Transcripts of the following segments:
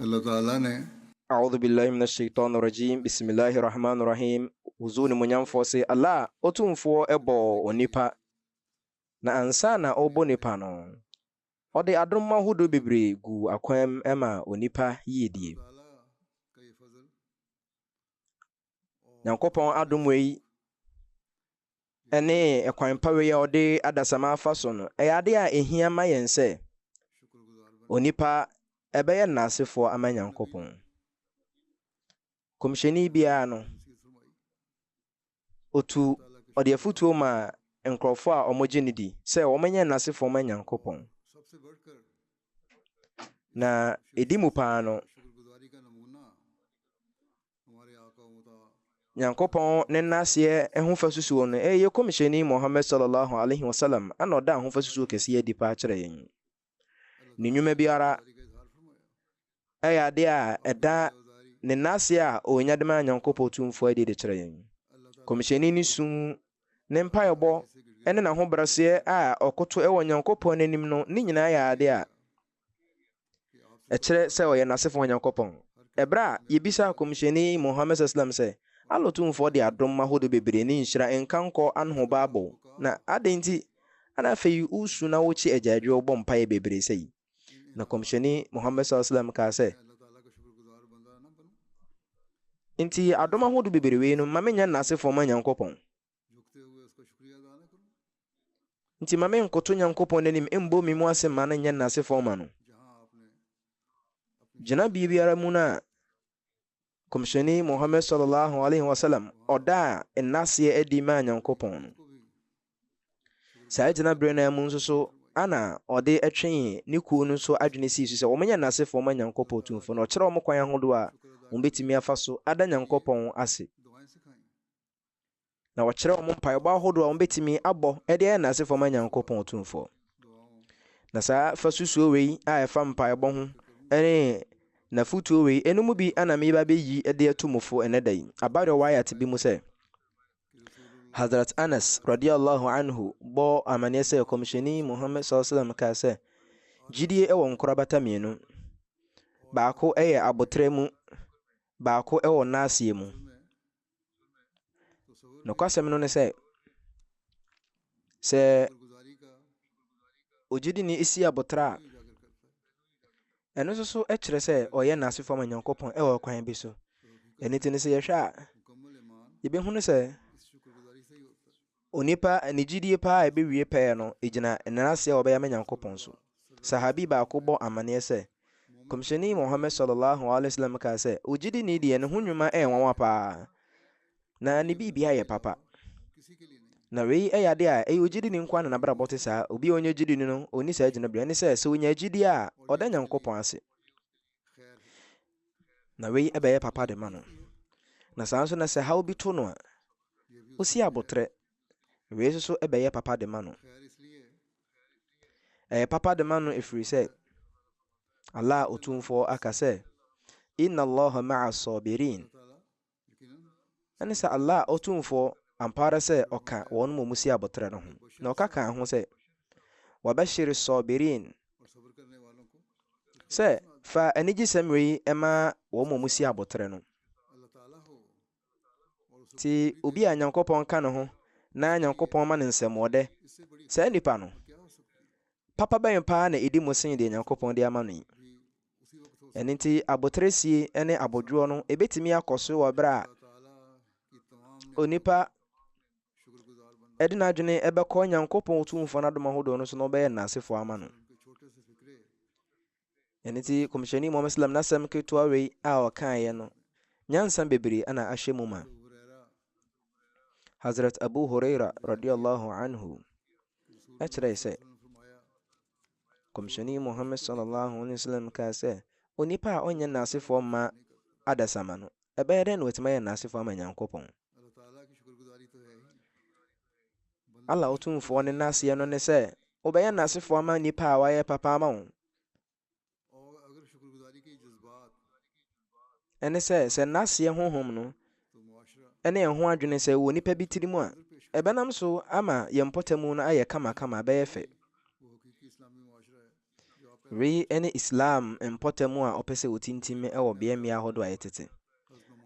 Allah Ta'ala ne. A'udhu billahi mina shaitani rajim Bisimilahi rahmani rahim Ozu Onimuonyamfoɔ se, Allah, Otumfoɔ bɔɔ onipa, na ansa na Ɔrebɔ onipa no, Ɔde adom ahodoɔ bebree guu akwan mu maa onipa yiedie. Nyankopɔn adom wei ne ɛkwan pa wei a ɔde adasama afa so no, ɛyɛ ade a ɛhia ma yɛn sɛ onipa ɛbɛyɛ nnasefoɔ ama Nyankopɔn. Kɔmhyɛni biara no, otu ɔde afutuo ma nkurɔfoɔ a wɔgye no di sɛ wɔnyɛ nnasefoɔ ma Nyankopɔn. Na ɛdi mu paa no, Nyankopɔn ne N'aseɛ ho fasusuo no ɛyɛ Kɔmhyɛni Muhammad Sallallahu Alaihi Wasallam na ɔdaa ho fasusuo kɛseɛ adi paa kyerɛ yɛn. Ne nnwuma biara ɛyɛ adeɛ a ɛda ne N'aseɛ a ɔnya de maa Nyankopɔn Tumfoɔ adi de kyerɛ yɛn. Kɔmhyɛni ne su, ne mpaebɔ, ne n'ahobraseɛ a ɔkoto wɔ Nyankopɔn n'anim no ne nyinaa yɛ adeɛ a Ɛkyerɛ sɛ ɔyɛ n'asefoɔ Nyankopɔn. Ɛberɛ a Yɛbisaa Komhyɛni Muhammad sasalam sɛ, Allah Tumfoɔ de adom ahodoɔ bebree ne nhyira nka nkɔ anho baa bɔ wo, na adɛn nti na afei wosu na wokye agyaadwoɔ wobɔ mpaeɛ bebree sɛi? Na Komhyɛni Muhammad sasalam kaa sɛ, Enti adom ahodoɔ bebree wei no mma mennyɛ n'asefoɔ ma Nyankopɔn. Nti ma me nkoto Nyankopɔn n'anim mmɔ me mu ase mma no nyɛ nnaase fɔɔ ma no. Gyinabea biara mu no a Kɔmhyɛni Muhammad sallallahu alaihi wasallam ɔdaa nnaseɛ adi maa Nyankopɔn no. Saa gyinabere no mu nso so ana ɔde ɛtwee ne kuo no nso adwene sii so sɛ wɔn nyɛ nnaase fɔɔ ma Nyankopɔn Tumfo na ɔkyerɛ wɔn kwan ahodoɔ a wɔn bɛtumi afa so ada Nyankopɔn ase. na wɔkyerɛ wɔn mpaebɔ ahodoɔ a wɔbɛtumi abɔ de ayɛ n'asefoɔ ma Nyankopɔn Otumfoɔ. Na saa fa susuo wei a ɛfa mpaebɔ ho ne n'afotuo wei ɛno mu bi ana meba bɛyi de ato mu fo ɛnɛ da yi. Aba rewayat bi mu sɛ, Hazrat Anas radiallahu anhu bɔ amaneɛ sɛ kɔmhyɛni Muhammad sallallahu alaihi wasallam kaa sɛ gyidie wɔ nkorabata mmienu baako yɛ abotrɛ mu baako wɔ naaseɛ mu Nokwasɛm no ne sɛ, sɛ ogyidini si aboterɛ a, ɛno nso so kyerɛ sɛ ɔyɛ n'ase fam Onyankopɔn wɔ ɔkwan bi so. Ɛno nti no, sɛ yɛhwɛ a, yɛbɛhunu sɛ Onipa ne gyidie paa a ɛbɛwie pɛɛ no gyina nnaseɛ a wɔbɛyɛ ama Nyankopɔn so. Sahabi baako bɔ amanneɛ sɛ, Kɔmhyɛni Muhammad sɔlɔllaahu alaihi wasallam kaa sɛ, Ogyidini deɛ ne ho nnwuma yɛ nwanwa paa, na ne biribiara yɛ papa. Na wei yɛ adeɛ a ɛyɛ ogyidini nko ara na n'abrabɔ te saa, obi a ɔnyɛ gyidini no ɔnni saa gyinaberɛ. Ɛne sɛ, sɛ ɔnya gyidie a, ɔda Nyankopɔn ase. Na wei bɛyɛ papa de ma no. Na saa nso na sɛ haw bi to no a, osi abotrɛ. Wei nso so bɛyɛ papa de ma no. Ɛyɛ papa de ma no ɛfiri sɛ, Allah Otumfoɔ aka sɛ, Inna Allaha ma'a sabirin. Ɛne sɛ, Allah Otumfoɔ, ampa ara sɛ Ɔka wɔn mu musie aboterɛ no ho, na Ɔka kaa ho sɛ, Wabashir As-Saabiriin, sɛ, Fa anigyesɛm wei ma wɔn mu musie aboterɛ no. Nti obi a Nyankopɔn ka ne ho na Nyankopɔn ma no nsɛmɔɔdɛ, saa nipa no, papa bɛn paa na ɛdi mu sen deɛ Nyankopɔn de ama no yi? Ɛno nti, aboteresie ne abodwoɔ no ɛbɛtumi akɔ so wɔ berɛ a onipa ɛde n'adwene ɛbɛkɔ Nyankopɔn Otumfoɔ no adom ahodoɔ no so na ɔbɛyɛ nnasefoɔ ama no. Ɛno nti, Kɔmhyɛni Muhammad Sallam n'asɛm ketewa wei a ɔkaeɛ no, nyansa bebree ana ahyɛ mu ma. Hazrat Abu Huraira radiyallahu anhu ɛkyerɛe sɛ Kɔmhyɛni Muhammad sɔllallaahu alaihi wa sallam kaa sɛ, Onipa a ɔnyɛ naasefoɔ mma adasamma no, ɛbɛyɛ dɛn na watumi ayɛ naasefoɔ ama Nyankopɔn? Allah Otumfoɔ ne naaseɛ no ne sɛ, wobɛyɛ naasefoɔ ama nnipa a wɔayɛ papa ama wo. Ɛne sɛ, sɛ nnaseɛ honhom no ne ɛho adwene sɛ wɔ nipa bi tiri mu a, ɛbɛnam so ama yɛn mpɔtamu no ayɛ kamakama, ɛbɛyɛ fɛ. Wei ne Islam mpɔtamu a ɔpɛ sɛ wɔtintim wɔ beaɛ mmea ahodoɔ a yɛtete.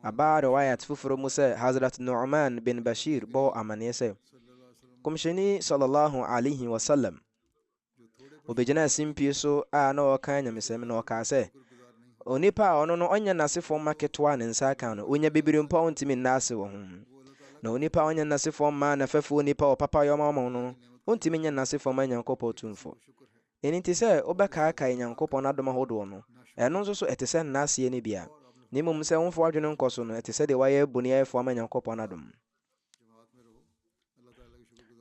Aba riwayat foforɔ mu sɛ Hazrat Nu'man bin Bashir bɔɔ amaneɛ sɛ, Kɔmhyɛni sallallahu alaihi wasallam Obegyinaa simpie so a na ɔreka anyamesɛm, na ɔkaa sɛ, Onipa a ɔno no ɔnyɛ n'asefo mma ketewa a ne nsa aka no, onya bibiri mpo a ontumi nna ase wɔ ho. Na onipa a ɔnyɛ n'asefo mma anafɛfo onipa wɔ papayɛ a ɔma wɔn no, ontumi nyɛ n'asefo mma Nyankopɔn Tumfo. Ɛno nti sɛ wobɛkaakae Nyankopɔn adom ahodoɔ no, ɛno nso so ɛte sɛ nna aseɛ no bi a, na mmom sɛ womfa w'adwene nkɔ so no, ɛte sɛ deɛ woayɛ boniayɛfoɔ ama Nyankopɔn adom.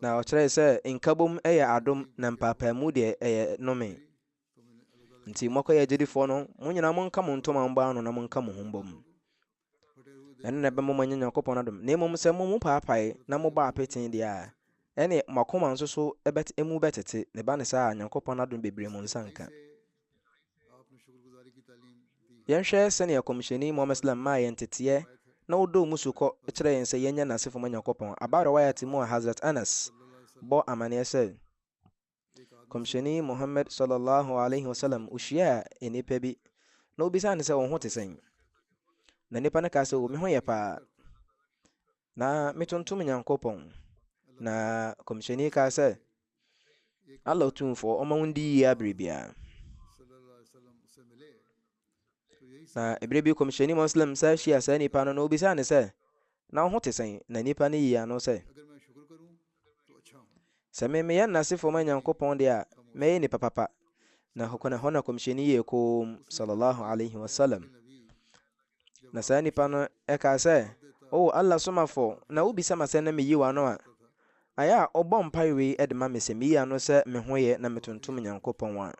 Na ɔkyerɛe sɛ nkabom yɛ adom na mpaapaamu deɛ ɛyɛ nome. Nti mɔkɔyɛ agyidifoɔ no, mo nyinaa monka mo ntoma mbɔ ano na monka mo ho mbom. Ɛno na ɛbɛma moanya Nyankopɔn adom. Na mmom sɛ mo mu paapae na mobɔ apete deɛ a, ɛne mo akoma nso so ɛbɛte, emu bɛtete. Ne ba ne saa a, Nyankopɔn adom bebree mo nsa nka. Yɛnhwɛ sɛnea Kɔmhyɛni Muhammad Sallam maa yɛn nteteɛ na ɔdɔɔ mu sukɔ kyerɛɛ yɛn sɛ yɛnyɛ n'asefo ma Nyankopɔn. Aba Riwayat mu a Hazrat Anas bɔ amaneɛ sɛ, Kɔmhyɛni Muhammad Sallallahu Alaihi Wasallam hyiaa nnipa bi na ɔbisaa no sɛ, Wo ho te sɛn? Na nnipa no kaa sɛ, O me ho yɛ paa. Na metontom Nyankopɔn. Na kɔmhyɛni kaa sɛ, Allah Otumfoɔ ɔma wo ndi yie abere biara. Na ebere bi kɔmhyɛni Muslim sɛ hyia saa nipa no na obisaa no sɛ, na wo ho te sɛn? Na nipa no yii ano sɛ, Sɛ me meyɛ nnasefo ma Nyankopɔn de a, mɛyɛ nipa papa. Na hokwan ɛhɔ na kɔmhyɛni yɛɛ koom, sallallahu alaihi wasallam. Na saa nipa no ɛkaa sɛ, O Allah somafo, na wobisa ma sɛ na meyi w'ano a, ayɛ a wobɔ mpae wei de ma me sɛ meyi ano sɛ me ho yɛ na metontom Nyankopɔn a,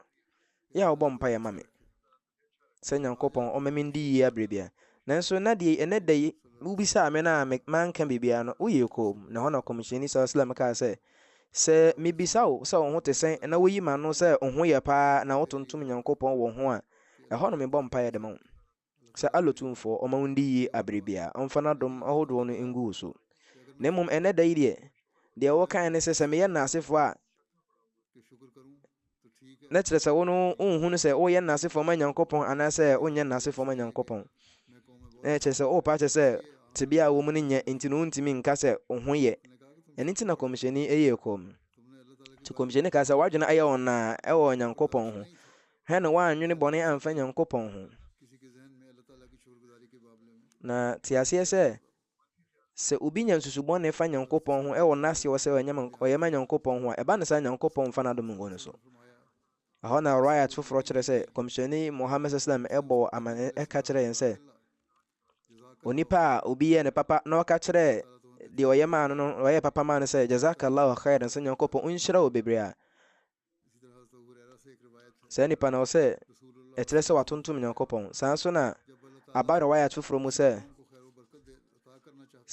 yɛ a wobɔ mpaeɛ ma me. sɛ Nyankopɔn ɔma me ndi yie aberɛ biara. Nanso na deɛ ɛnɛ da yi wobisaa me na me manka biribiara no, woyɛɛ komm. Na ɛhɔ na Kɔmhyɛni Sala Salam kaa sɛ, Sɛ mebisa wo sɛ wo ho te sɛn na woyi m'ano sɛ wo ho yɛ paa na wotontom Nyankopɔn wɔ ho a, ɛhɔ no mebɔ mpaeɛ de ma wo sɛ Allah Tumfoɔ ɔma wo ndi yie aberɛ biara, ɔmfa n'adom ahodoɔ no ngu wo so. Na mmom ɛnɛ da yi deɛ, deɛ wokae ne sɛ, sɛ meyɛ Naasefoɔ a, na kyerɛ sɛ wo no wonhu no sɛ woyɛ nnase fam anyankopɔn anaasɛ wonyɛ nnase fam anyankopɔn na kyerɛ sɛ wopa kyɛ sɛ tebea a wɔ mu no nyɛ nti no wontumi nka sɛ wo ho yɛ ɛno nti na kɔmhyɛni ɛyɛ kɔm nti kɔmhyɛni ka sɛ woadwene ayɛ wɔn naa ɛwɔ nyankopɔn ho hwɛ no woanwene bɔne amfa nyankopɔn ho na te aseɛ sɛ Sɛ obi nya nsusu bɔne fa Nyankopɔn ho wɔ n'ase wɔ sɛ ɔyɛ ma Nyankopɔn ho a, ɛba no saa a Nyankopɔn mfa n'adom ngu no so. Ɛhɔ na Riwayat foforɔ kyerɛ sɛ Kɔmhyɛni Muhammad sallam bɔɔ amanneɛ ka kyerɛɛ yɛn sɛ, Onipa a obi yɛɛ no papa na ɔka kyerɛɛ deɛ ɔyɛ maa no no ɔyɛɛ papa maa no sɛ, Jazakallahu khairan, sɛ Nyankopɔn nhyira wo bebree a, Saa nipa no, ɛwɔ sɛ ɛkyerɛ sɛ watontom Nyankopɔn. Saa nso na aba riwayat foforɔ mu sɛ,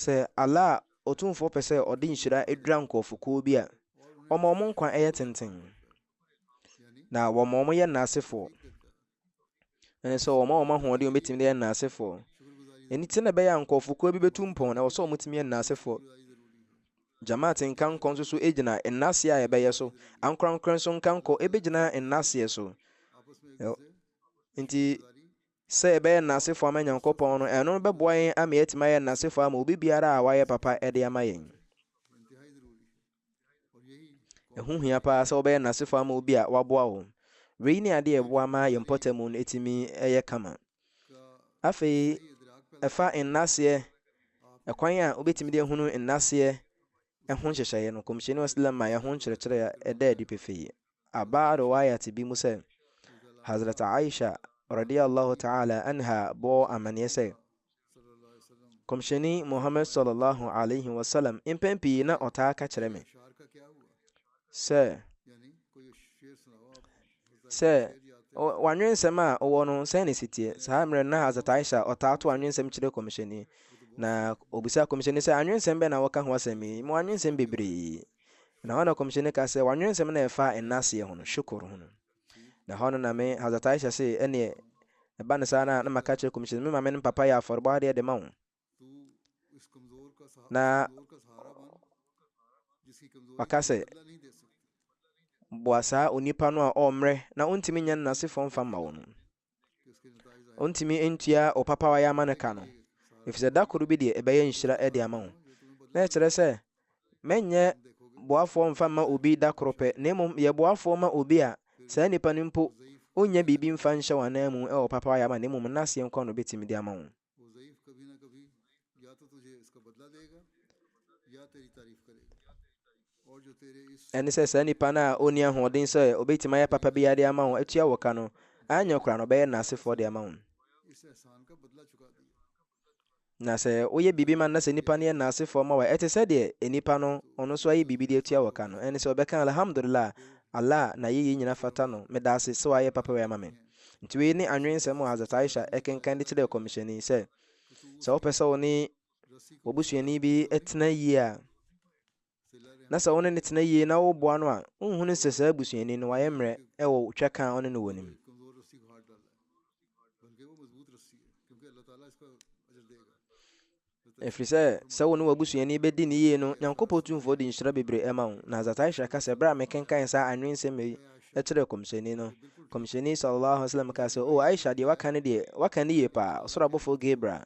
sɛ Allah a Otumfoɔ pɛ sɛ ɔde nhyira dura nkurɔfokuo bi a, ɔma wɔn nkwa yɛ tenten, na wɔma wɔn yɛ nnaasefoɔ. ɛne sɛ wɔn a wɔn ahoɔden wɔbɛtumi de yɛ nnaasefoɔ ɛni ti na ɛbɛyɛ a nkurɔfokuo bi bɛtu mpɔn na ɛwɔ sɛ wɔtumi yɛ nnaasefoɔ jamaat nkankɔ nso so gyina nnaseɛ a ɛbɛyɛ so ankorankora nso nkankɔ ɛbɛgyina nnaseɛ so nti sɛ ɛbɛyɛ nnasefoɔ ama nyankopɔn no ɛno bɛboa yɛn ama yɛatumi ayɛ nnasefoɔ ama obi biara a wayɛ papa ɛde ama yɛn Ɛho hia paa sɛ wobɛyɛ nnasefo ama obi a waboa wo. Wei ne ade a ɛboa ma yɛn mpɔtam no tumi yɛ kama. Afei, ɛfa nnaseɛ, ɛkwan a wobɛtumi de ahunu nnaseɛ ho nhyehyɛeɛ no, Kɔmhyɛni Ɔslam ma yɛn ho nkyerɛkyerɛ a ɛda adi pefee. Aba riwayat bi mu sɛ, Hazrat Aisha radiyallahu ta'ala anha bɔɔ amanneɛ sɛ, Kɔmhyɛni Muhammad sallallahu alaihi wasallam mpɛn pii na ɔtaa ka kyerɛ me sɛ sɛ wanwensɛm a ɔwɔ no sɛn ne sitie saa mmerɛ no na Hazrat Aisha ɔtaa to anwensɛm kyerɛ kɔmhyɛni na obisa kɔmhyɛni sɛ anwensɛm bɛn na wɔka ho asɛm yi mu anwensɛm bebree Na hɔ na Kɔmhyɛni ka sɛ, Wɔanwene nsɛm no a ɛfa nnaseɛ ho no, Shukur, ho no. Na hɔ no na me, Hazrat Aisha, se, Ɛneɛ, ɛba no saa no a, na maka akyerɛ Kɔmhyɛni, Me maame no papa yɛ afɔrebɔ adeɛ de ma wo. Na waka sɛ, Boa saa onipa no a ɔmmrɛ na ɔntumi nnya ne n'asefoɔ mfa mma wo no. ɔntumi ntua ɔpapa a wayɛ ama no ka no ɛfiri sɛ da koro bi deɛ ɛbɛyɛ nhyira de ama wo na ɛkyerɛ sɛ mɛnyɛ boafoɔ mfa mma obi da koro pɛ na mmom yɛ boafoɔ ma obi a saa nipa no mpo ɔnya biribi mfa nhyɛ wɔn ananmu ɛwɔ papa wayɛ ama no mmom nnaseɛ nkɔ no bɛtumi de ama wo Ɛne sɛ saa nipa no a ɔnni ahoɔden sɛ ɔbɛtumi ayɛ papa biara de ama wo, atua wo ka no, anyɛ koraa no ɔbɛyɛ nnasefoɔ de ama wo. Na sɛ woyɛ biribi ma no na sɛ nipa no yɛ nnasefoɔ ma wo a, ɛte sɛ deɛ nipa no ɔno nso ayɛ biribi de atua wo ka no. Ɛne sɛ ɔbɛka alhamdulillah, Allah n'ayɛyie nyina fata no, meda ase sɛ wayɛ papa wei ama me. Enti wei ne anwensɛm a Hazrat Aisha kenkan de kyerɛɛ kɔmhyɛni sɛ, sɛ wopɛ sɛ wo ne wɔbusuani bi tena yie a, na sɛ wo ne no tena yie na woboa no a, wonhunu sɛ saa busuani no wayɛ mmerɛ wɔ twɛ ka a ɔne no wɔ no mu. Ɛfiri sɛ, sɛ wo ne w'abusuani bɛdi no yie no, Nyankopɔn Tumfoɔ de nhyira bebree ɛma wo. Na Hazrat Aisha ka sɛ, berɛ a mekenkan saa anwensɛm yi kyerɛɛ Kɔmhyɛni no, Kɔmhyɛni Sala Allahu Alaihi Wasallam kaa sɛ, O Aisha, deɛ woaka no deɛ, woaka no yie paa. Ɔsoro abɔfoɔ Gabriel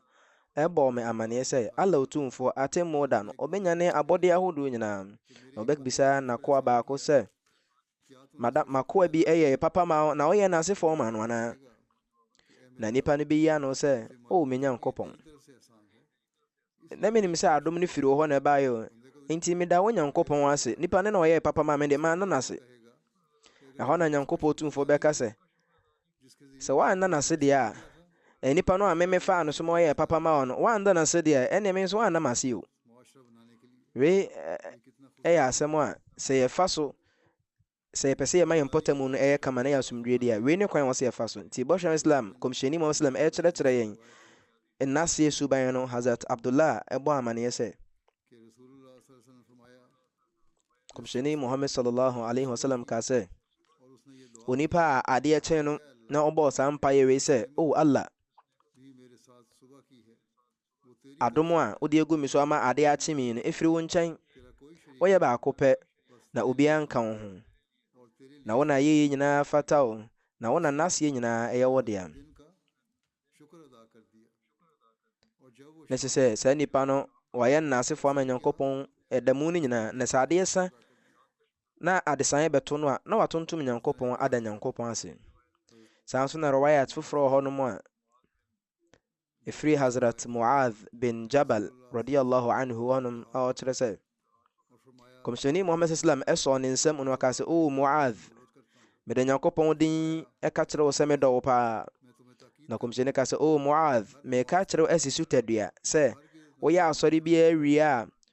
bɔɔ me amaneɛ sɛ, Allah Otumfoɔ, Atemmuo Da no, ɔbɛnyane abɔdeɛ ahodoɔ nyinaa, na ɔbɛbisa N'akoa baako sɛ, Mada makoa bi yɛ papa ma wo na woyɛ n'ase fɔɔ ma no anaa? Na nnipa no bɛyi ano sɛ, O me Nyankopɔn, na menim sɛ adom no firi wo hɔ na ɛbaeɛ o, enti meda wo Nyankopɔn ase, nipa no na ɔyɛɛ papa ma me de, manna no ase. Ɛhɔ na Nyankopɔn Tumfoɔ bɛka sɛ, Sɛ wanna no ase deɛ a, ɛɛ nipa no a me me faa no so ma ɔyɛɛ papa maa wo no, wanda no ase deɛ a, ɛnneɛ me nso wanna m'ase o. Wei ɛ, yɛ asɛm a, sɛ yɛfa so, sɛ yɛpɛ sɛ yɛma yɛn mpɔtamu no yɛ kama na yɛ asomdwoeɛ deɛ a, wei ne kwan a ɛwɔ sɛ yɛfa so. Nti Bɔhyɛni Islam, Kɔmhyɛni Muhammad Sallam, ɛrekyerɛkyerɛ yɛn N'aseɛ suban no, Hazrat Abdullah bɔ amaneɛ sɛ, Kɔmhyɛni Muhammad Sallallahu Alaihi Wasallam kaa sɛ, Onipa a adeɛ kyee no na ɔbɔɔ saa mpaeɛ wei sɛ, O oh Allah, adom a wode agu me so ama adeɛ akye me no ɛfiri wo nkyɛn. Woyɛ baako pɛ na obiara nka wo ho. Na wo na ayɛyie nyinaa fata wo, na wo na nnaseɛ nyinaa ɛyɛ wo dea. Na ɛsɛ sɛ saa nipa no wayɛ nnasefoɔ ama Nyankopɔn ɛda mu no nyinaa, na sɛ adeɛ sa Na adesaeɛ bɛto no a, na watontom Nyankopɔn ada Nyankopɔn ase. Saa nso na Riwayat foforɔ wɔ hɔnom a ɛfiri Hazrat Mu'adh bin Jabal radiyallahu anhu hɔnom a ɔkyerɛ sɛ, Kɔmhyɛni Muhammad sallam ɛsɔɔ ne nsam na ɔkaa sɛ, O Mu'adh, mede Nyankopɔn din ɛka kyerɛ wo sɛ medɔ wo paa. Na Kɔmhyɛni ka sɛ, O Mu'adh, meka kyerɛ wo asi so tadua sɛ, woyɛ asɔre biara wie a,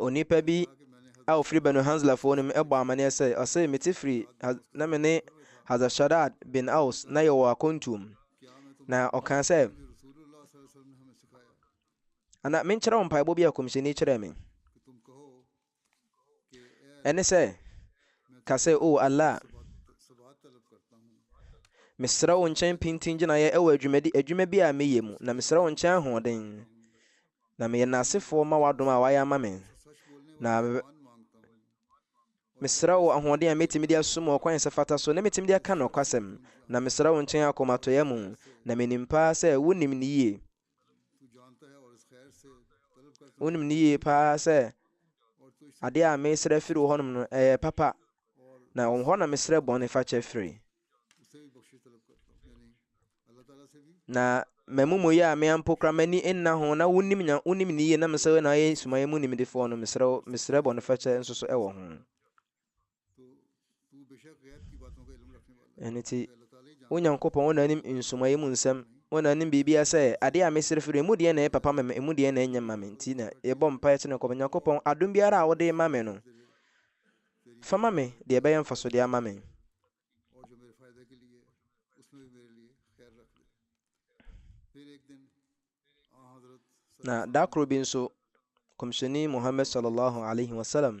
onipa bi a ɔfiri banu hanslafoɔ no mu bɔ amanneɛ sɛ ɔse mete firi na me ne hazashadad bin aus na yɛwɔ akɔntuom na ɔkaa sɛ ana menkyerɛ wo mpaebɔ bi a kɔmhyɛni kyerɛɛ me Ɛne sɛ, ka sɛ, O Allah, mesrɛ wo nkyɛn pintin gyinaeɛ wɔ adwumadi adwuma bi a meyɛ mu, na mesrɛ wo nkyɛn ahoɔden, na meyɛ nnasefoɔ ma w'adom a wayɛ ama me, na mesrɛ wo ahoɔden a mɛtumi de asom wɔ kwan sɛ fata so, na mɛtumi de aka nokwasɛm, na mesrɛ wo nkyɛn akomatɔeɛ mu, na menim paa sɛ wonim no yie. Wonim no yie paa sɛ adeɛ a mesrɛ firi wo hɔnom no ɛyɛ papa na wɔn hɔ na mesrɛ bɔne fakyɛ firi na m'amumuyɛ a meampo kora m'ani nna ho na wonim nya wonim no yie na mesɛ na ayɛ sumayɛ mu nimdefoɔ no mesrɛ mesrɛ bɔne fakyɛ nso so ɛwɔ ho ɛno ti wo nyankopɔn wo na anim nsomaeɛ mu nsɛm wo na anim biribia sɛ adeɛ a mesere firi ɛmu deɛ na ɛyɛ papa ma me ɛmu deɛ na ɛnyɛ ma me nti na yɛbɔ mpaeɛ kyerɛ nyankopɔn nyankopɔn adom biara a wode ma me no fa ma me deɛ ɛbɛyɛ mfasodeɛ ama me na da koro bi nso kɔmhyɛni muhammad sallallahu alaihi wasallam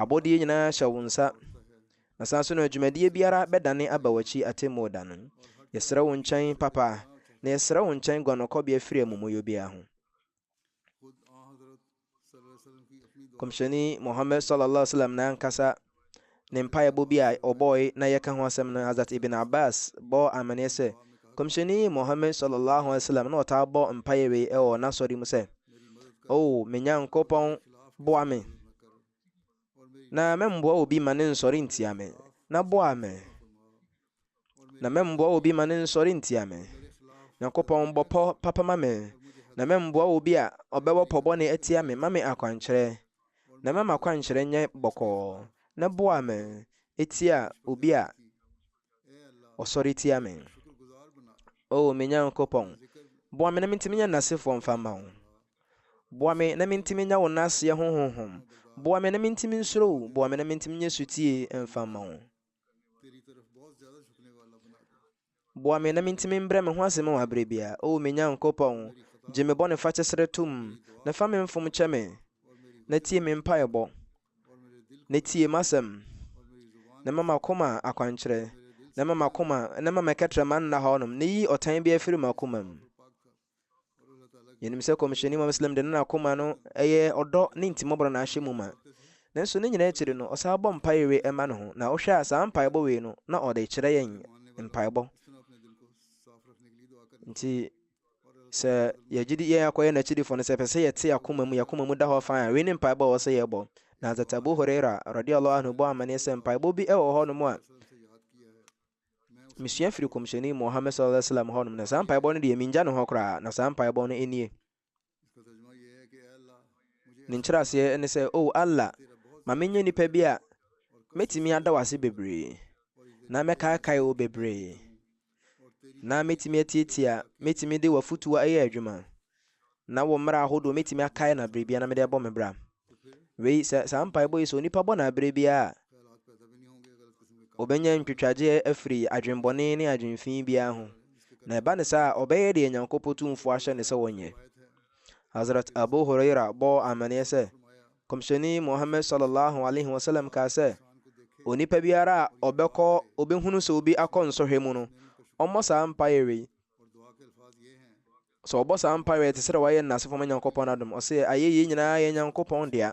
Abɔdeɛ nyinaa hyɛ wo nsa. Na saa nso na dwumadie biara bɛdane aba w'akyi atemmuo da no. Yɛsrɛ wo nkyɛn, Papa, na yɛsrɛ wo nkyɛn guanɔkɔbea firi amumuyɔ biara ho. Kɔmhyɛni Muhammad sallallahu alaihi wasallam n'ankasa ne mpaebɔ bi a ɔbɔɔe na yɛka ho asɛm no Hazrat Ibn Abbas bɔɔ amaneɛ sɛ Kɔmhyɛni Muhammad sallallahu alaihi wasallam na ɔtaa bɔ mpaeɛ wei wɔ n'asɔre mu sɛ O me Nyankopɔn, boa me, na mɛmmoa obi ma ne nsɔre ntia me, na boa me, na mɛmmoa obi ma ne nsɔre ntia me. Nyankopɔn bɔ pɔ papa ma me, na mɛmmoa obi a ɔbɛwɔ pɔ bɔne atia me ma me akwankyerɛ, na mɛma akwankyerɛ nyɛ bɔkɔɔ, na boa me, etia obi a Ɔsɔre tia me. O me Nyankopɔn, boa me na mintumi nyɛ nnasefoɔ mfa mma wo. Boa me na mintumi nya wo nnaseɛ ho honhom. Boa me na mintumi nsuro wo. Boa me na mintumi nyɛ sotie mfa mma wo. Boa me na mintumi mbrɛ me ho ase ma wo aberɛ biara. O me Nyankopɔn, gye me bɔnefakyɛ serɛ tom, na fa me mfom kyɛ me, na tie me mpaebɔ. na tie m'asɛm, na ma m'akoma akwankyerɛ, na ma m'akoma, na ma mɛkɛtrɛma nna hɔnom, na yi ɔtan bi afiri m'akoma mu. Yɛnim sɛ kɔmhyɛni Muhammad Islam de n'akoma no ɛyɛ ɔdɔ ne ntimɔborɔ na ahyɛ mu ma. Nanso ne nyinaa akyiri no, ɔsan bɔ mpae we ɛma ne ho, na wohwɛ a saa mpaebɔ wei no, na ɔde kyerɛ yɛn mpaebɔ. Nti Sɛ yɛgye di yɛn akɔyɛ n'akyidifo no sɛ pɛ sɛ yɛte akoma mu, yɛn akoma mu da hɔ fann a, wei ne mpaebɔ a ɛwɔ sɛ yɛbɔ. Na Hazrat Abu Huraira radiyallahu anhu bɔ amanneɛ sɛ mpaebɔ bi wɔ hɔnom a mesua firi kɔmhyɛni Muhammad sallallahu alaihi wasallam hɔnom na saa mpaebɔ no deɛ mengya ne hɔ koraa na saa mpaebɔ no nie Ne nkyerɛaseɛ ne sɛ, O Allah, ma menyɛ nipa bi a mɛtumi ada wo ase bebree, na mɛkaekae wo bebree, na mɛtumi atiatia, mɛtumi de w'afotuo ayɛ adwuma, na wo mmara ahodoɔ mɛtumi akae no aberɛbiara na mede abɔ me bra. Wei, sɛ saa mpaebɔ yi sɛ onipa bɔ no aberɛ biara a, ɔbɛnya ntwitwagyeɛ afiri adwenbɔne ne adwenfi biara ho. Na ɛba ne saa a, ɔbɛyɛ deɛ Nyankopɔn tumfoɔ ahyɛ ne sɛ ɔnyɛ. Hazrat Abu Huraira bɔɔ amaneɛ sɛ, Kɔmhyɛni Muhammad sallallahu alaihi wasallam kaa sɛ, onipa biara a ɔbɛkɔ ɔbɛhunu sɛ obi akɔ nsɔhwɛ mu no, ɔmmɔ saa mpaeɛ wei. Sɛ ɔbɔ saa mpaeɛ a, ɛte sɛ dɛ wayɛ no n'asefo ma Nyankopɔn adom. Ɔse, Ayɛyie nyinaa yɛ Nyankopɔn dea,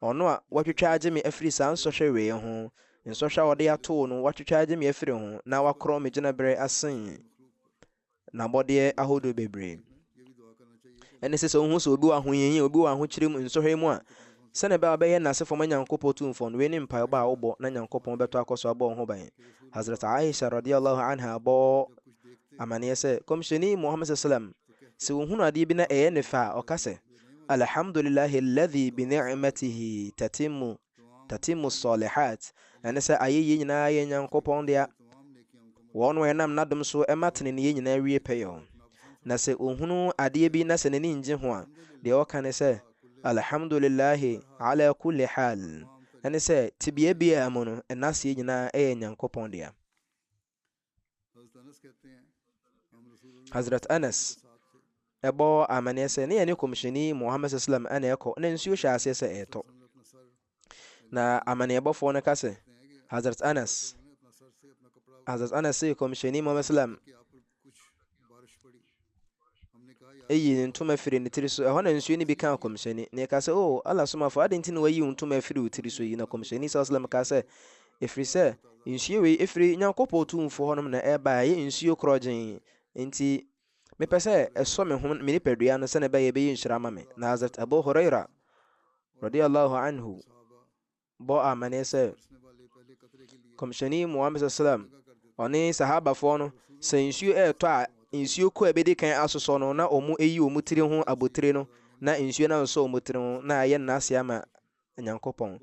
Ɔno a Watwitwa agye me afiri saa nsɔhwɛ wei ho, nsɔhwɛ a ɔde atoo no, Watwitwa agye me afiri ho, na Wakorɔn me gyinaberɛ asen N'abɔdeɛ ahodoɔ bebree. Ɛne sɛ, sɛ wohu sɛ obi wɔ ahohiahia, obi wɔ ahokyere mu, nsɔhwɛ mu a, Sɛnea ɛbɛyɛ a wobɛyɛ Nasefo ma Nyankopɔn Tumfoɔ no, wei ne mpaebɔ a wobɔ na Nyankopɔn bɛtɔ akɔ so abɔ wo ho ban. Hazrat Aisha radiyya Allahu anha bɔ amanneɛ sɛ, Kɔmhyɛni Muhammad sallam, sɛ ɔhunu adeɛ bi na ɛyɛ no fɛ a, ɔka sɛ, Alhamdulillahi alladhi bi ni'matihi tatimmu tatimmu as-salihat, ɛne sɛ, Ayɛyie nyinaa yɛ Nyankopɔn dea, wɔn na ɛnam N'adom so ma teneneeyɛ nyinaa wie pɛyɛ. Na sɛ ɔhunu adeɛ bi na sɛ n'ani nnye ho a, deɛ ɔka ne sɛ, Alhamdulillaahi alaa kulli haal, ɛne sɛ, tebea biara mu no, nnaseɛ nyinaa yɛ Nyankopɔn dea. Hazrat Anas ɛbɔ amaneɛ sɛ, ne yɛne Kɔmhyɛni Muhammad sallallahu alaihi wasallam na ɛkɔ, na nsuo hyɛɛ aseɛ sɛ ɛretɔ. Na amanneɛbɔfoɔ no ka sɛ, Hazrat Anas, Hazrat Anas se Kɔmhyɛni Muhammad Salam eyi ne ntoma firi ne tiri so ɛhɔ na nsuo no bi kaa kɔmhyɛni na ɛka sɛ o ala somafo ade nti na wayi ntoma afiri wo tiri so yi na kɔmhyɛni saa salam ka sɛ ɛfiri sɛ nsuo wei ɛfiri nyankopɔn tumfoɔ hɔnom na ɛba ɛyɛ nsuo korɔgyen nti Mepɛ sɛ ɛsɔ me ho, me nipadua no sɛnea ɛbɛyɛ ɛbɛyɛ nhyira ama me. Na Hazrat Abu Huraira, radiyallahu anhu, bɔ amanneɛ sɛ, Kɔmhyɛni Muhammad sallam, ɔne sahabafoɔ no, sɛ nsuo ɛretɔ a, nsuo kɔ a ɛbɛdi kan asosɔ no, na wɔn ayi wɔn tiri ho abotire no, na nsuo no asosɔ wɔn tiri ho, na ayɛ nnaase ama Nyankopɔn.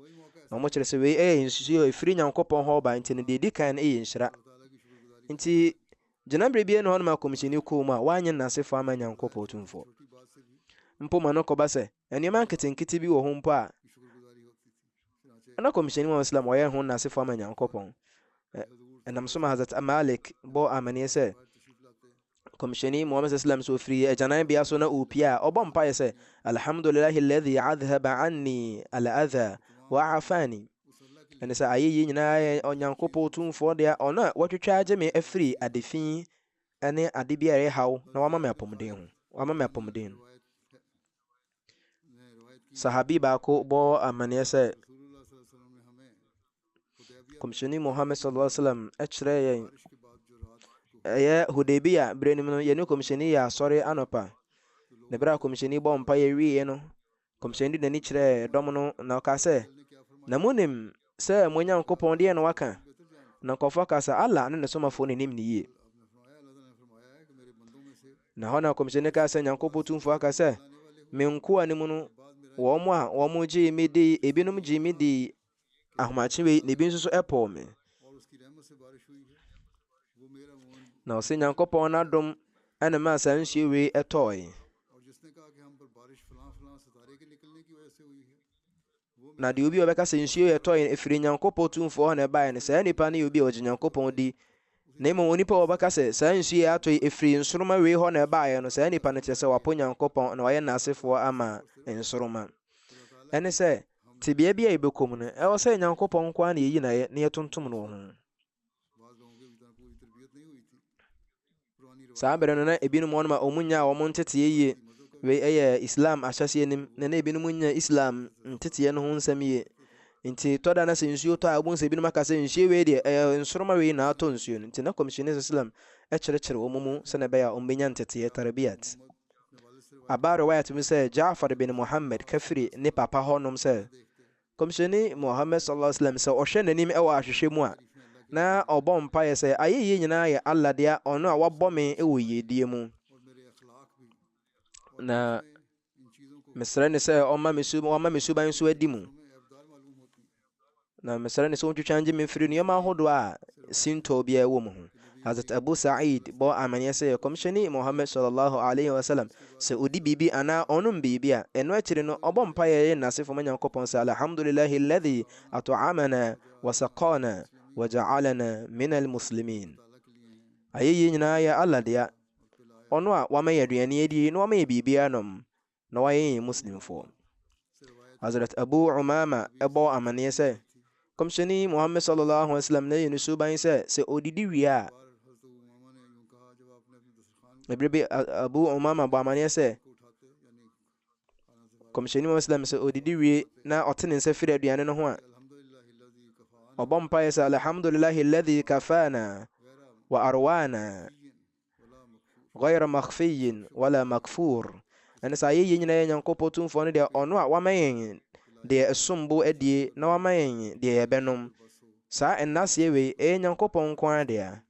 Na wɔkyerɛ sɛ wei yɛ nsusuiɛ a ɛfiri Nyankopɔn hɔ ba, nti no deɛ ɛdi kan no yɛ nhyira. Nti, gyinaberɛ biara nni hɔ no ma Kɔmhyɛni kɔɔ mu a wannye n'asefoɔ amma Nyankopɔn Tumfoɔ. Mpo ma no kɔba sɛ, nneɛma nketenkete bi wɔ hɔ mpo a na Kɔmhyɛni Muhammad Islam ɔyɛ ho n'asefoɔ ama Nyankopɔn. Ɛnam so ma Hazrat Malik bɔɔ amaneɛ sɛ, Kɔmhyɛni Muhammad sallam so ofiri agyanan bea so na ɔrepie a ɔbɔ mpaeɛ sɛ Alhamdulillahi alladhi adhaba anni al-adha wa afani ɛne sɛ ayɛyie nyinaa yɛ Onyankopɔn tumfoɔ deɛ ɔno a watwitwa agye me afiri adefi ne ade bi a ɛyɛ haw na wama me apɔmuden ho wama me apɔmuden Sahabi baako bɔ amanneɛ sɛ, Kɔmhyɛni Muhammad sallallahu alaihi wasallam kyerɛɛ yɛn ɛyɛ Hudaybiya berɛ no mu no yɛne kɔmhyɛni yɛ asɔre anɔpa na berɛ a kɔmhyɛni bɔ mpa yɛwieɛ no kɔmhyɛni de n'ani kyerɛɛ dɔm no na ɔkaa sɛ na monim sɛ mo Nyankopɔn deɛ na waka. Na nkɔfoɔ ka sɛ, Allah ne ne somafoɔ no nim ne yie. Na hɔ na kɔmhyɛni ka sɛ, Nyankopɔn tumfoɔ aka sɛ, me nkoa no mu no, wɔn a wɔn gyee me dii, ebinom gyee me dii ahomakye wei, na ebi nso so ɛpɔɔ me. Na ɔsɛ Nyankopɔn n'adom ɛna ma saa nsuo wei ɛtɔɔe. Na deɛ obi a ɔbɛka sɛ nsuo yɛ tɔe no, ɛfiri Nyankopɔn tumfoɔ hɔ na ɛbaeɛ no, saa nipa no yɛ obi a ɔgye Nyankopɔn di. Na mmom onipa a ɔbɛka sɛ, saa nsuo yɛ atɔ yi, ɛfiri nsoroma wei hɔ na ɛbaeɛ no, saa nipa no kyerɛ sɛ wapo Nyankopɔn na wayɛ naasefoɔ ama nsoroma. Ɛne sɛ, tebea bi a yɛbɛkɔ mu no, ɛwɔ sɛ Nyankopɔn nko ara na yɛyi no ayɛ na yɛtontom no wɔ ho. saa bere no na ebinom wɔn ma wɔn nyaa wɔn ntetee yie wei yɛ islam ahyɛse anim na na ebinom nya islam ntetee no ho nsɛm yie nti tɔ da na sɛ nsuo tɔ a wɔn sɛ ebinom aka sɛ nsuo wei deɛ ɛyɛ nsoroma wei na atɔ nsuo no nti na kɔmhyɛni islam ɛkyerɛkyerɛ wɔn mu sɛnɛ ɛbɛyɛ a wɔn bɛnya ntetee tarabiyat abaare wayɛ tumi sɛ jaafar bin muhammad kafiri ne papa hɔnom sɛ Kɔmhyɛni Muhammad sallallahu alaihi wasallam sɛ ɔhwɛ n'anim wɔ ahwehwɛ mu a, na ɔbɔ mpaeɛ sɛ, Ayɛyie nyinaa yɛ Allah dea, Ɔno a wabɔ me wɔ yiedie mu, na mesrɛ no sɛ ɔma me su wama me suban nso adi mu, na mesrɛ no sɛ ɔntwitwa ngye me mfiri nneɛma ahodoɔ a sintɔ biara wɔ mu ho. Hazrat Abu Sa'eed bɔɔ amanneɛ sɛ Kɔmhyɛni Muhammad sɔlɔ Laahu alaihi wa sallam, sɛ odi biribi anaa ɔnom biribi a, ɛno akyiri no ɔbɔ mpaeɛ yɛ n'asefo ma Nyankopɔn sɛ Alhamdulillaahi alladhi at'amana wa saqaana wa ja'alana min al-muslimin. Ayɛyie nyinaa yɛ Allah dea, Ɔno a Wama yɛn aduane adie na Wama yɛn biribi anom. na wɔayɛ yɛn Muslimfoɔ. Hazrat Abu Umama bɔɔ amaneɛ sɛ, Kɔmhyɛni Muhammad sallallahu alaihi wasallam na yɛ ne suban sɛ sɛ ɔdidi wie a, ɛberɛ bi Abu Umama bɔ amaneɛ sɛ, Kɔmhyɛni Muhammad sallam sɛ ɔdidi wie na ɔte ne nsa firi aduane no ho a, ɔbɔ mpaeɛ sɛ, Alhamdulillahi alladhi kafana wa arwana Ghayra makhfiyyin wala maghfuur. Ɛne sɛ ayɛyie nyinaa yɛ Nyankopɔn Tumfoɔ no dea, Ɔno a Wama yɛn deɛ ɛsom bo adie na Wama yɛn deɛ yɛbɛnom. Saa nnaseɛ wei, ɛyɛ Nyankopɔn nko ara dea.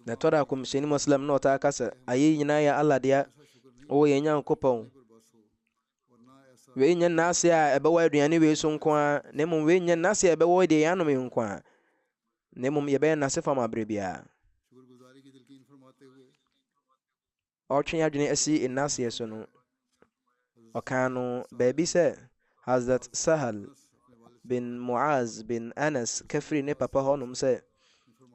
Na ɛtɔ da Kɔmhyɛni Moslem na ɔtaa ka sɛ, ayɛyie nyinaa yɛ Allah dea, O yɛn Nyankopɔn, Wei nyɛ nna ase a ɛbɛwɔ aduane wei so nko ara, na mmom wei nyɛ nna ase a ɛbɛwɔ deɛ yɛanom yi nko ara, na mmom yɛbɛyɛ nna ase fam aberɛ biara. Ɔretwe adwene asi nna aseɛ so no, ɔkaa no baabi sɛ Hazrat Sahal bin Muaz bin Anas kafiri ne papa hɔnom sɛ,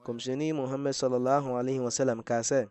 Kɔmhyɛni Muhammad sallallahu alaihi wasallam kaa sɛ,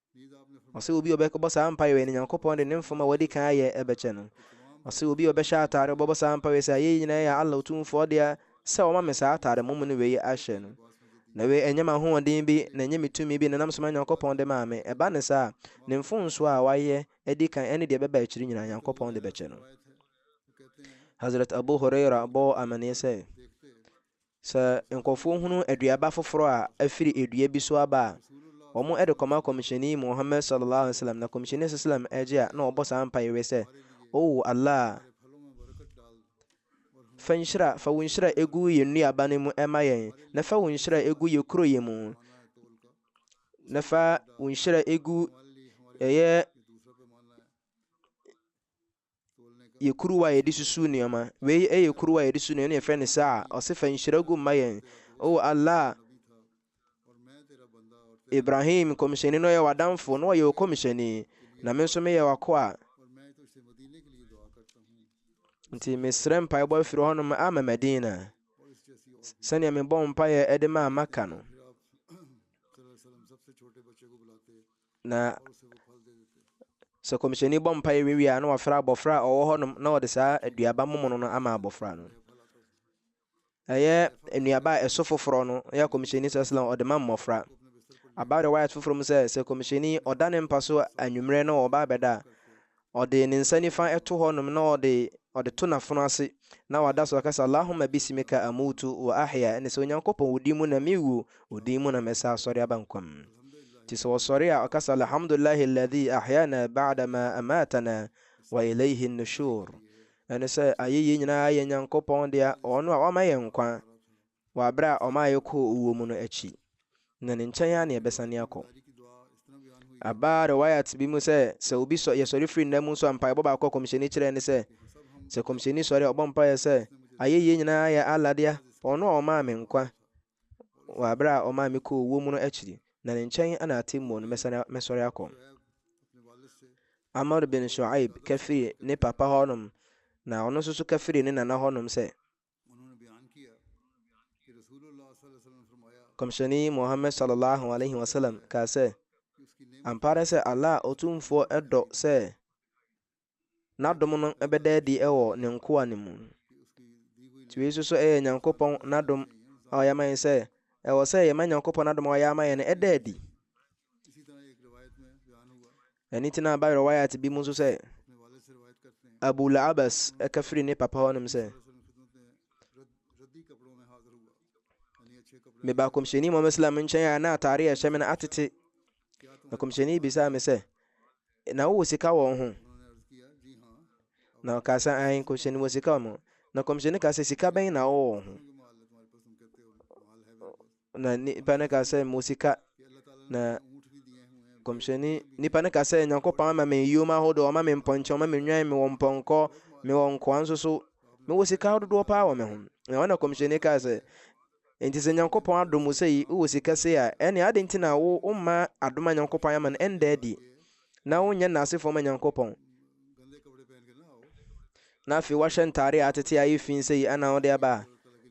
Ɔse obi a ɔbɛbɔ saa mpaeɛ wei no, Nyankopɔn de ne mfom a wadi kan ayɛ bɛkyɛ no. Ɔse obi a ɔbɛhyɛ ataade, ɔbɛbɔ saa mpaeɛ wei sɛ, Ayɛyi nyinaa yɛ Allah Otumfoɔ dea, sɛ Wama me saa ataade mommono wei ahyɛ no. Na wei ɛnyɛ m'ahoɔden bi, na ɛnyɛ me tumi bi, na ɛnam soma Nyankopɔn de maa me. Ɛba no saa a, ne mfomsoɔ a wayɛ adi kan ɛne deɛ ɛbɛba akyiri nyinaa, Nyankopɔn de bɛkyɛ no. Hazrat Abu Hurairah bɔɔ amaneɛ sɛ, Sɛ nkurɔfoɔ hunu aduaba foforɔ a afiri dua bi so aba a, wɔde kɔma Kɔmhyɛni Muhammad sallallahu alaihi wasallam, na Kɔmhyɛni sallallahu alaihi wasallam gye a na ɔbɔ saa mpaeɛ wei sɛ, O Allah, fa nhyira, fa wo nhyira egu yɛn nnuaba no mu ma yɛn, na fa wo nhyira egu yɛn kuro yɛ mu, na fa wo nhyira egu ɛyɛ yɛ kuruwa a yɛde susu nneɛma. Wei yɛ kuruwa a yɛde susu nneɛma na yɛfrɛ no saa. Ɔse fa nhyira gu mma yɛn. O oh Allah, Ibrahim, nkɔmhyɛni no yɛ w'adamfo na ɔyɛ ɔkɔmhyɛni, na me nso meyɛ w'akoa. Nti mesrɛ mpaebɔ afiri hɔnom ama Madina, sɛnea mebɔ mpaeɛ de maa Maka no. Na sɛ kɔmhyɛni bɔ mpaeɛ wie a na wafrɛ abɔfra a ɔwɔ hɔnom na ɔde saa aduaba momono no ama abɔfra no ɛyɛ nnuaba a ɛso foforɔ no ɛyɛ kɔmhyɛni sɛ sɛlɛm ɔde ma mmɔfra aba rewayat foforɔ mu sɛ sɛ kɔmhyɛni ɔda ne mpa so anwummerɛ na ɔba abɛda a Ɔde ne nsa nifa to hɔnom na ɔde ɔde to n'afono ase, na wada so aka sɛ, Allahumma bisimika amuutu wa ahya, ɛne sɛ, Onyankopɔn, wo din mu na mewu, wo din mu na mɛsa asɔre aba nkwa mu. Nti sɛ ɔsɔre a, ɔka sɛ, Alhamdulillahi alladhi ahyana ba'da ma amatana wa ilayhi an-nushur, ɛne sɛ, Ayeyie nyinaa yɛ Nyankopɔn dea, ɔno a wama yɛn nkwa Wɔ bere a ɔmaa yɛkɔɔ owuo mu no akyi, na ne nkyɛn ara na yɛbɛsane akɔ. Aba Riwayat bi mu sɛ, sɛ obi sɔ, yɛsɔre firi nna mu nso a, mpaebɔ baako a Kɔmhyɛni kyerɛɛ ne sɛ, sɛ Kɔmhyɛni sɔre a, ɔbɔ mpaeɛ sɛ, Ayɛyie nyinaa yɛ Allah dea, Ɔno a Ɔmaa me nkwa wɔ bere a Ɔmaa me kɔɔ owuo mu no akyi, na Ne nkyɛn na atemmuo no mɛsane, mɛsɔre akɔ. Amr bin Shu'aib ka firii ne papa hɔnom, na ɔno nso so ka firii ne nana hɔnom sɛ, Kɔmhyɛni Muhammad sallallahu alaihi wasallam kaa sɛ, Ampa ara sɛ Allah Otumfoɔ dɔ sɛ N'adom no bɛda adi wɔ Ne nkoa no mu. Nti wei nso so yɛ Nyankopɔn N'adom a Ɔyɛ ama yɛn sɛ ɛwɔ sɛ yɛma Nyankopɔn N'adom a Ɔyɛ ama yɛn no da adi. Ɛno ti na aba riwayat bi mu nso sɛ Abu La'abas ɛka firi ne papa hɔ nom sɛ meba kɔmhyɛni mɔm islam nkyɛn a na atare a ɛhyɛ me no atete na kɔmhyɛni bisaa me sɛ na wowɔ sika wɔ ho na ɔka sɛ an kɔmhyɛni wɔ sika wɔ mo na kɔmhyɛni ka sɛ sika bɛn na wowɔ wɔ ho Na nipa no ka sɛ, Mo sika. Na kɔmhyɛni, nipa no ka sɛ, Nyankopɔn ama me yom ahodoɔ, ɔma me mpɔnkyɛn, ɔma me nnwan, mewɔ mpɔnkɔ, mewɔ nkoa nso so. Mewɔ sika ahododoɔ paa wɔ me ho. Na ɔna kɔmhyɛni kaa sɛ, Enti sɛ Nyankopɔn adom wo sɛ yi, wowɔ sika sei a, ɛne ade nti na wo woma adom a Nyankopɔn ayɛ ama no ɛnda adi. na wonyɛ nnase fam Nyankopɔn, na afei wahyɛ ntaare a atete a ɛyɛ fi sɛ yi ana wode aba a,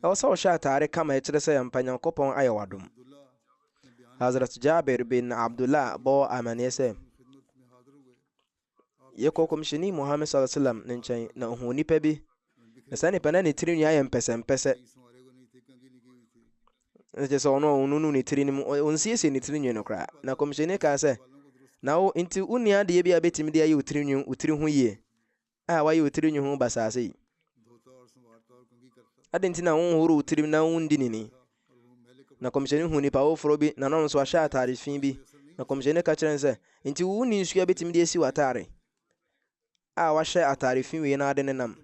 ɛwɔ sɛ ɔhyɛ ataare kam a ɛkyerɛ sɛ ampa Nyankopɔn ayɛ wadom. Hazrat Jabir bin Abdullah bɔ amaneɛ sɛ, yɛkɔ kɔmhyɛni Muhammad sallallahu alaihi wasallam ne nkyɛn na ohuu nipa bi na saa nipa na ne tirinwi ayɛ mpɛsɛmpɛsɛ ɛna kyerɛ sɛ ɔno a ɔnunu ne tiri no mu ɔnsiesie ne tiri nwi no koraa na kɔmhyɛni kaa sɛ na wo nti wonni adeɛ bi a bɛtumi de ayɛ wo tiri nwi wo tiri ho yie a wayɛ wo tiri nwi ho basaase yi adɛn nti na wonhoro wo tirim na wondi nini na kɔmhyɛni hu nipa woforɔ bi na no nso ahyɛ atade fi bi na kɔmhyɛni ka kyerɛ no sɛ nti wonni nsuo a bɛtumi de asi w'atare a wahyɛ atare fi wei na ade no nam.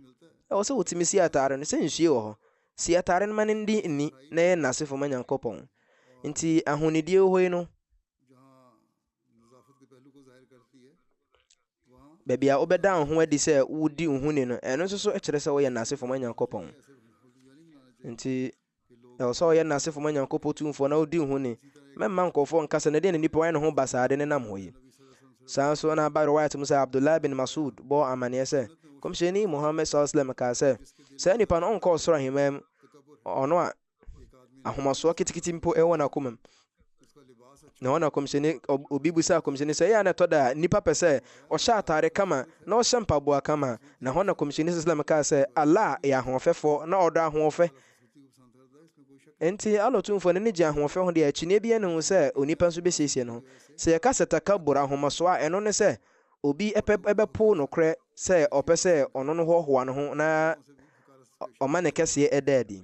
Ɛwɔ sɛ wotumi si atare no sɛ nsuo wɔ hɔ. Si atare no ma no ndi nni na yɛ nnasefo ma Nyankopɔn. Nti ahonidie wɔ hɔ yi no, baabi a wobɛda wo ho adi sɛ wodi wo ho ni no, ɛno nso so kyerɛ sɛ woyɛ nnasefo ma Nyankopɔn. Nti Ɛwɔ sɛ ɔyɛ Nasefo ma Nyankopɔ Tumfoɔ na ɔdi ho ni. Mɛmma nkorɔfoɔ nka sɛ, 'Na deɛn na nipa wayɛ ne ho basaa de nenam hɔ yi? Saa ara nso na aba Riwaayat mu sɛ Abdullah bin Mas'ud bɔɔ amaneɛ sɛ, Nkɔmhyɛni Muhammad S.A.W kaa sɛ, Saa nipa no ɔnkɔ Ɔsoro Ahemmaa mu, ɔno a ahomasoɔ ketekete mpo wɔ n'akoma mu, na wɔn akɔmhyɛni obi bisa akɔmhyɛni sɛ ɛyɛ a na ɛtɔ da a nipa pɛ sɛ ɔhyɛ ataare kama na ɔhyɛ mpaboa kama na hɔ na kɔmhyɛni sislam kaa sɛ Allah yɛ ahoɔfɛfoɔ na ɔdɔ ahoɔfɛ Enti Allah tumfoɔ no ne gye ahoɔfɛ ho deɛ akyinnye bi ne ho sɛ onipa nso bɛsiesie no sɛ yɛka sɛ takabur ahomaso a ɛno ne sɛ obi ɛpɛ ɛbɛpo nokorɛ sɛ ɔpɛ sɛ ɔno no hɔhoa no ho na ɔma ne kɛseɛ ɛda adi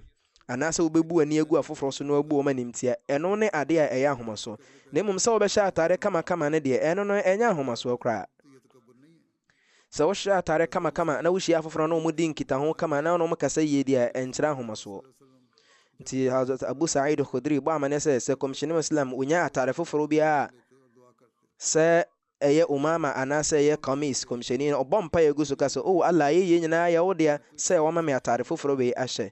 anaasɛ wubebu w'ani agu afoforo so na woabu wɔn animtia. Ɛno ne ade a ɛyɛ ahomaso. Na mmom sɛ wobɛhyɛ atade kamakama no deɛ, ɛno no, ɛnyɛ ahomasoɔ koraa. Sɛ wohyɛ atade kamakama na wuhyia afoforo na wɔdi nkitaho kama na wo ne wɔn kasa yie deɛ a, ɛnkyerɛ ahomasoɔ. Nti Hazrat Abu Sa'id Khudri bɔ amanneɛ sɛ, sɛ Kɔmhyɛni Islam, wonnya atade foforo biara a, sɛ ɛyɛ Umama anaasɛ ɛyɛ Qamis, Kɔmhyɛni no, ɔbɔ mpaeɛ gu so ka sɛ, O Allah, ayɛyie nyinaa yɛ wo dea, sɛ woama me ataade foforɔ wei ahyɛ.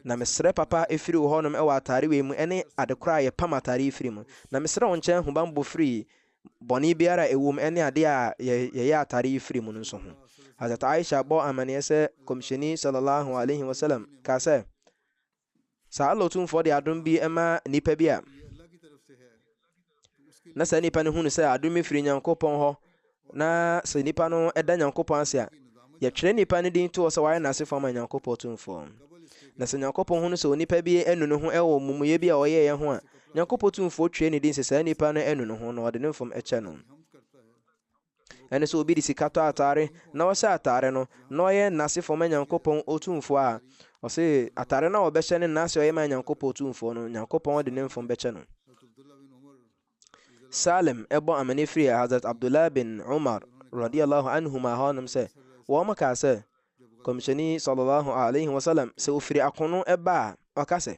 Na mesrɛ papa firi wo hɔnom wɔ ataade wei mu ne adekorɔ a yɛpam ataade yi firi mu. Na mesrɛ wo nkyɛn hubanbɔ firi bɔne biara a ɛwom ne adeɛ a yɛyɛ ataade yi firi mu no nso ho. Hazrat Aisha bɔɔ amaneɛ sɛ Kɔmhyɛni Sallallahu Alaihi Wasallam kaa sɛ, Saa Allah Otumfoɔ de adom bi ma nipa bi a, na saa nipa no hunu sɛ adom firi Nyankopɔn hɔ, na sɛ nipa no da Nyankopɔn ase a, yɛtwerɛ nipa no din toɔ sɛ wayɛ n'asefoɔ ama Nyankopɔn Otumfoɔ. Na sɛ Nyankopɔn hunu sɛ onipa bi anu ne ho wɔ mumuyɛ bi a ɔyɛeɛ ho a, Nyankopɔn Otumfoɔ twerɛ ne din sɛ saa nipa no anu ne ho na ɔde ne mfom kyɛ no. Ɛne sɛ obi de sika tɔ atare na ɔhyɛ atare no na ɔyɛ nase fam Nyankopɔn Otumfoɔ a, ɔse atare no a ɔbɛhyɛ ne nase a ɔyɛ ma Nyankopɔn Otumfoɔ no, Nyankopɔn de ne mfom bɛkyɛ no. Salim ɛbɔ amane firi Hazrat Abdullah bin Umar radiyallahu anhuma hɔ nom sɛ, wɔn kaa sɛ, Kɔmhyɛni sallallahu alaihi wasallam sɛ ofiri akono ɛba a, ɔka sɛ,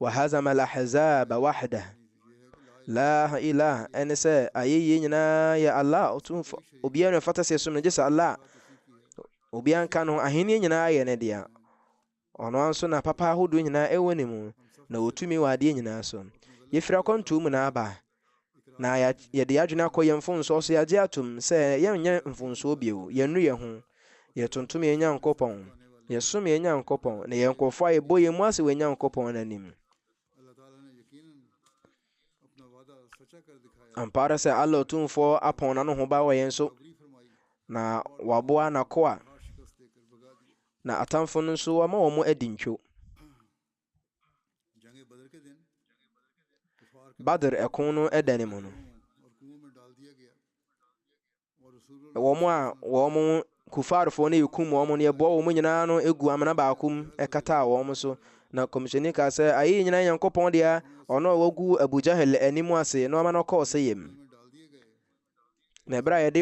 Wahazama al-ahzaba wahdah. La ilah ɛne sɛ ayɛyie nyinaa yɛ Allah ɔtumfo. Obiara na ɛfata sɛ ɛsom no gye sɛ Allah. Obiara nka no ahenni nyinaa yɛ ne dea. Ɔno ara nso na papa ahodoɔ nyinaa ɛwɔ ne mu na ɔtumi wɔ adeɛ nyinaa so. Yɛfiri akwantuo mu na aba na yɛde yɛn adwene akɔ yɛn mfomsoɔ so, yɛagye atom sɛ yɛnyɛ mfomsoɔ bio, yɛnnu yɛn ho, yɛtontom yɛn Nyankopɔn, yɛsom yɛn Nyankopɔn, na yɛn nkurɔfoɔ a yɛbɔ yɛn mu ase wɔ yɛn Nyankopɔn no anim. Ampa ara sɛ Allah Otumfoɔ apɔn n'ano ho ba wɔ yɛn so, na waboa n'akoa, na atamfo no nso wama wɔn adi ntwo. Badr ɛko no da no mu no, wɔn a wɔn kufaarfoɔ no rekum wɔn no yɛboa wɔn nyinaa no gu amena baako mu ɛkataa wɔn so na kɔmhyɛni kaa sɛ ayɛ nyinaa nyankopɔn dea ɔno a wagu Abu Jahal anim ase na ɔma no kɔɔ sɛ yam Na ɛberɛ a yɛde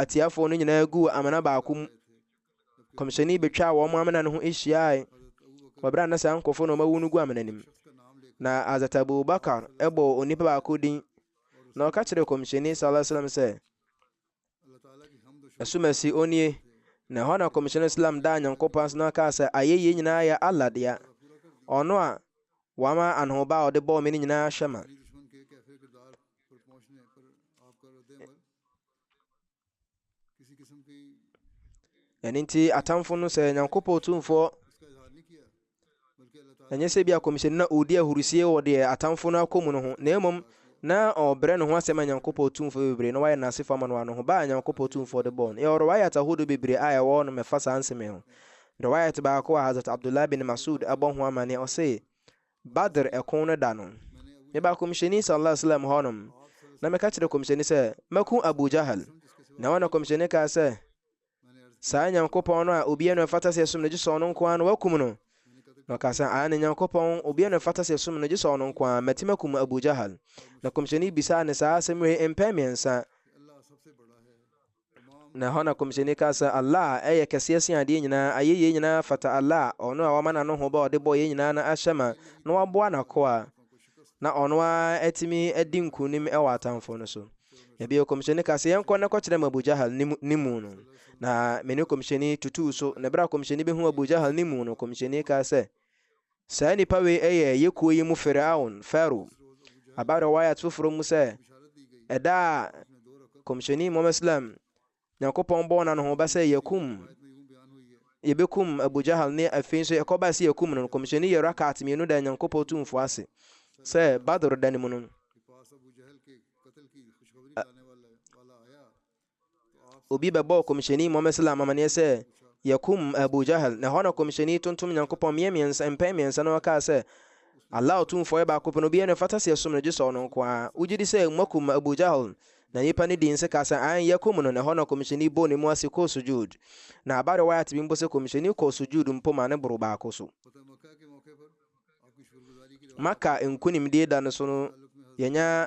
atiafoɔ no nyinaa guu amena baako mu kɔmhyɛni bɛtwaa wɔn amena no ho hyiae wɔ berɛ a na saa nkurɔfoɔ na ɔmawu no gu amena no mu na azat abubakar ɛbɔɔ onipa baako din na ɔka kyerɛɛ kɔmhyɛni sallallahu alaihi sɛ asumasi onie na ɛhɔ na kɔmhyɛni islam daa nyankopɔn ase na ɔkaa sɛ ayɛyie nyinaa yɛ allah dea ɔno a Wama anohoba a ɔde bɔɔ me no nyinaa ahyɛ ma. Ɛno nti atamfo no sɛ Nyankopɔn Tumfoɔ ɛnyɛ sɛ bi akɔmhyɛni na ɔredi ahurusie wɔ deɛ atamfo no akɔ mu no ho na mmom na ɔbrɛ ne ho asɛm a Nyankopɔn Tumfoɔ bebree na wayɛ n'asefo ama no ano ho ba a Nyankopɔn Tumfoɔ de bɔɔ no yɛ ɔrɔ wayɛ atahodo bebree a ɛwɔ no mɛfa saa nsɛm ho Riwaayat baako a Hazrat Abdullah bin Mas'ud bɔ ho amanneɛ, ɔse, Badr ɛko no da no, mebaa Kɔmhyɛni Sallallahu Alaihi Wasallam hɔ nom, na meka kyerɛɛ Kɔmhyɛni sɛ, Mɛko Abu Jahl. Na ɛhɔ na Kɔmhyɛni kaa sɛ, Saa Nyankopɔn no a obiara na ɛfata sɛ yɛsom no gye sɛ Ɔno nko ara no, wakum no. Na ɔkaa sɛ, Aane, Nyankopɔn, obiara na ɛfata sɛ yɛsom no gye sɛ Ɔno nko ara, mɛtumi akum Abu Jahl. Na Kɔmhyɛni bisaa no saa asɛm wei mpɛn mmiɛnsa. Na ɛhɔ na Kɔmhyɛni kaa sɛ, Allah yɛ kɛseɛ sen adeɛ nyinaa, ayeyie nyinaa fata Allah, Ɔno a Wama N'anohoba a Ɔde bɔɔ yɛn nyinaa no ahyɛ ma, na Waboa N'akoa, na Ɔno ara atumi adi nkunim wɔ atamfoɔ no so. Na bio Kɔmhyɛni kaa sɛ, Yɛnkɔ na kɔkyerɛ me Abu Jahal ne, ne mu no. Na me ne Kɔmhyɛni tutuu so, na berɛ a Kɔmhyɛni bɛhuu Abu Jahal ne mu no, Kɔmhyɛni kaa sɛ, Saa nnipa wei yɛ yɛ kuo yi mu Firaun, Pharaoh. Aba riwayat foforɔ mu sɛ, ɛda a Kɔmhyɛni Muhammad Islam, Nyankopɔn bɔɔ no ano ho ba sɛ yɛkum, yɛbɛkum Abu Jahal ne afei nso ɛkɔba sɛ yɛkum no no, Kɔmhyɛni yɛ rakat mmienu da Nyankopɔn tumfoɔ ase sɛ Badr da no mu no. obi bɛbɔɔ kɔmhyɛni muhammad salam amanneɛ sɛ yɛkum abu jahal na ɛhɔ na kɔmhyɛni tontom nyankopɔn mmeɛ mmiɛnsa mpɛn mmiɛnsa na ɔkaa sɛ allah ɔtumfoɔ yɛ baako pɛ no obiara na ɛfata sɛ yɛsom no gye sɛ ɔno nko a wogye di sɛ moakum abu jahal na nipa no dii nse kaa sɛ an yɛkum no na ɛhɔ na kɔmhyɛni bɔɔ ne mu ase kɔɔ sujud na aba rewayat bi mpo sɛ kɔmhyɛni kɔɔ sujud mpo ma ne boro baako so maka nkonimdie da no so no yɛnya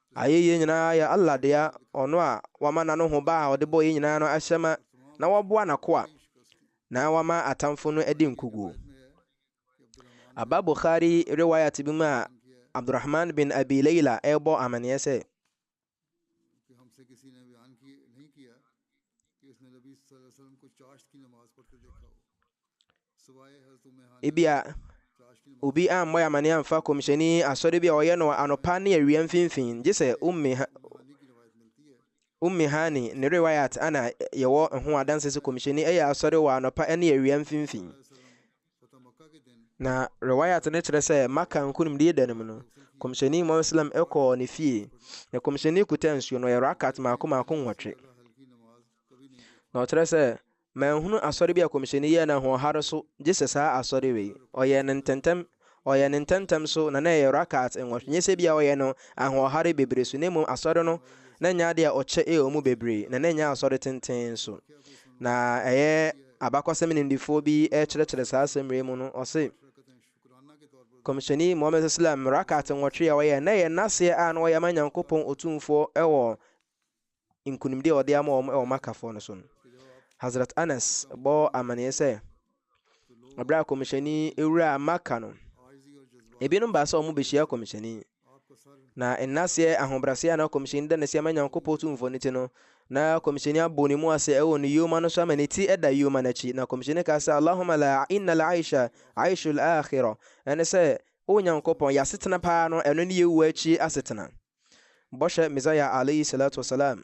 Ayɛyie nyinaa yɛ Allah dea, Ɔno a Wama N'anohoba a Ɔde bɔ yɛn nyinaa no ahyɛ ma, na Waboa N'akoa, na Wama atamfo no adi nkoguo. Aba Bukhari Riwayat bi mu a Abdurrahman bin Abi Layla rebɔ amaneɛ sɛ, Ebia obi ammɔ yɛ amane amfa kɔmhyɛni asɔre bi a ɔyɛ no anɔpa ne awia mfimfini gye sɛ ummi ha ummi hani ne rewayat ana yɛwɔ ho adanse sɛ kɔmhyɛni ɛyɛ asɔre wɔ anɔpa ne awia mfimfini na rewayat no kyerɛ sɛ maka nkonimdie da no mu no kɔmhyɛni mu islam ɛkɔɔ ne fie na kɔmhyɛni kuta nsuo no yɛ rakat maako maako nwɔtwe na ɔkyerɛ sɛ Manhunu asɔre bi a Kɔmhyɛni yɛɛ no ahoɔhare so gye sɛ saa asɔre wei. Ɔyɛɛ no ntɛntɛm, ɔyɛɛ no ntɛntɛm so, na na ɛyɛ rak'at nwɔtwe. Nyɛ sɛ ebia ɔyɛ no ahoɔhare bebree so, na mmom asɔre no, na ɛnyɛ ade a ɔkyɛ wɔ mu bebree, na na ɛnyɛ asɔre tenten nso. Na ɛyɛ abakɔsɛm nimdefoɔ bi rekyerɛkyerɛ saa asɛm wei mu no, ɔse, Kɔmhyɛni Muhammad salam rak'at nwɔtwe a ɔyɛɛ, na ɛyɛ n'aseɛ a na ɔyɛ ama Nyankopɔn Otumfoɔ wɔ nkonimdi a ɔde ama wɔn wɔ Makkafoɔ no so no, Hazrat Anas bɔ amanneɛ sɛ, ɛberɛ a kɔmhyɛni wuraa Makka no, ebinom baa sɛ wɔn bɛhyia kɔmhyɛni, na nnaseɛ ahobraseɛ a na kɔmhyɛni da n'asi ama Nyankopɔn tumfoɔ no ti no, na kɔmhyɛni abɔ ne mu ase ɛwɔ ne yoma no so ama ne ti ɛda yoma no akyi, na kɔmhyɛni kaa sɛ, Allahumma la inna la aisha aishul akhira, ɛne sɛ, O Nyankopɔn, yɛasetena paa no, ɛno ne yɛwuo akyi asetena. Bɔhyɛ Messiah alayhi salatu wa salam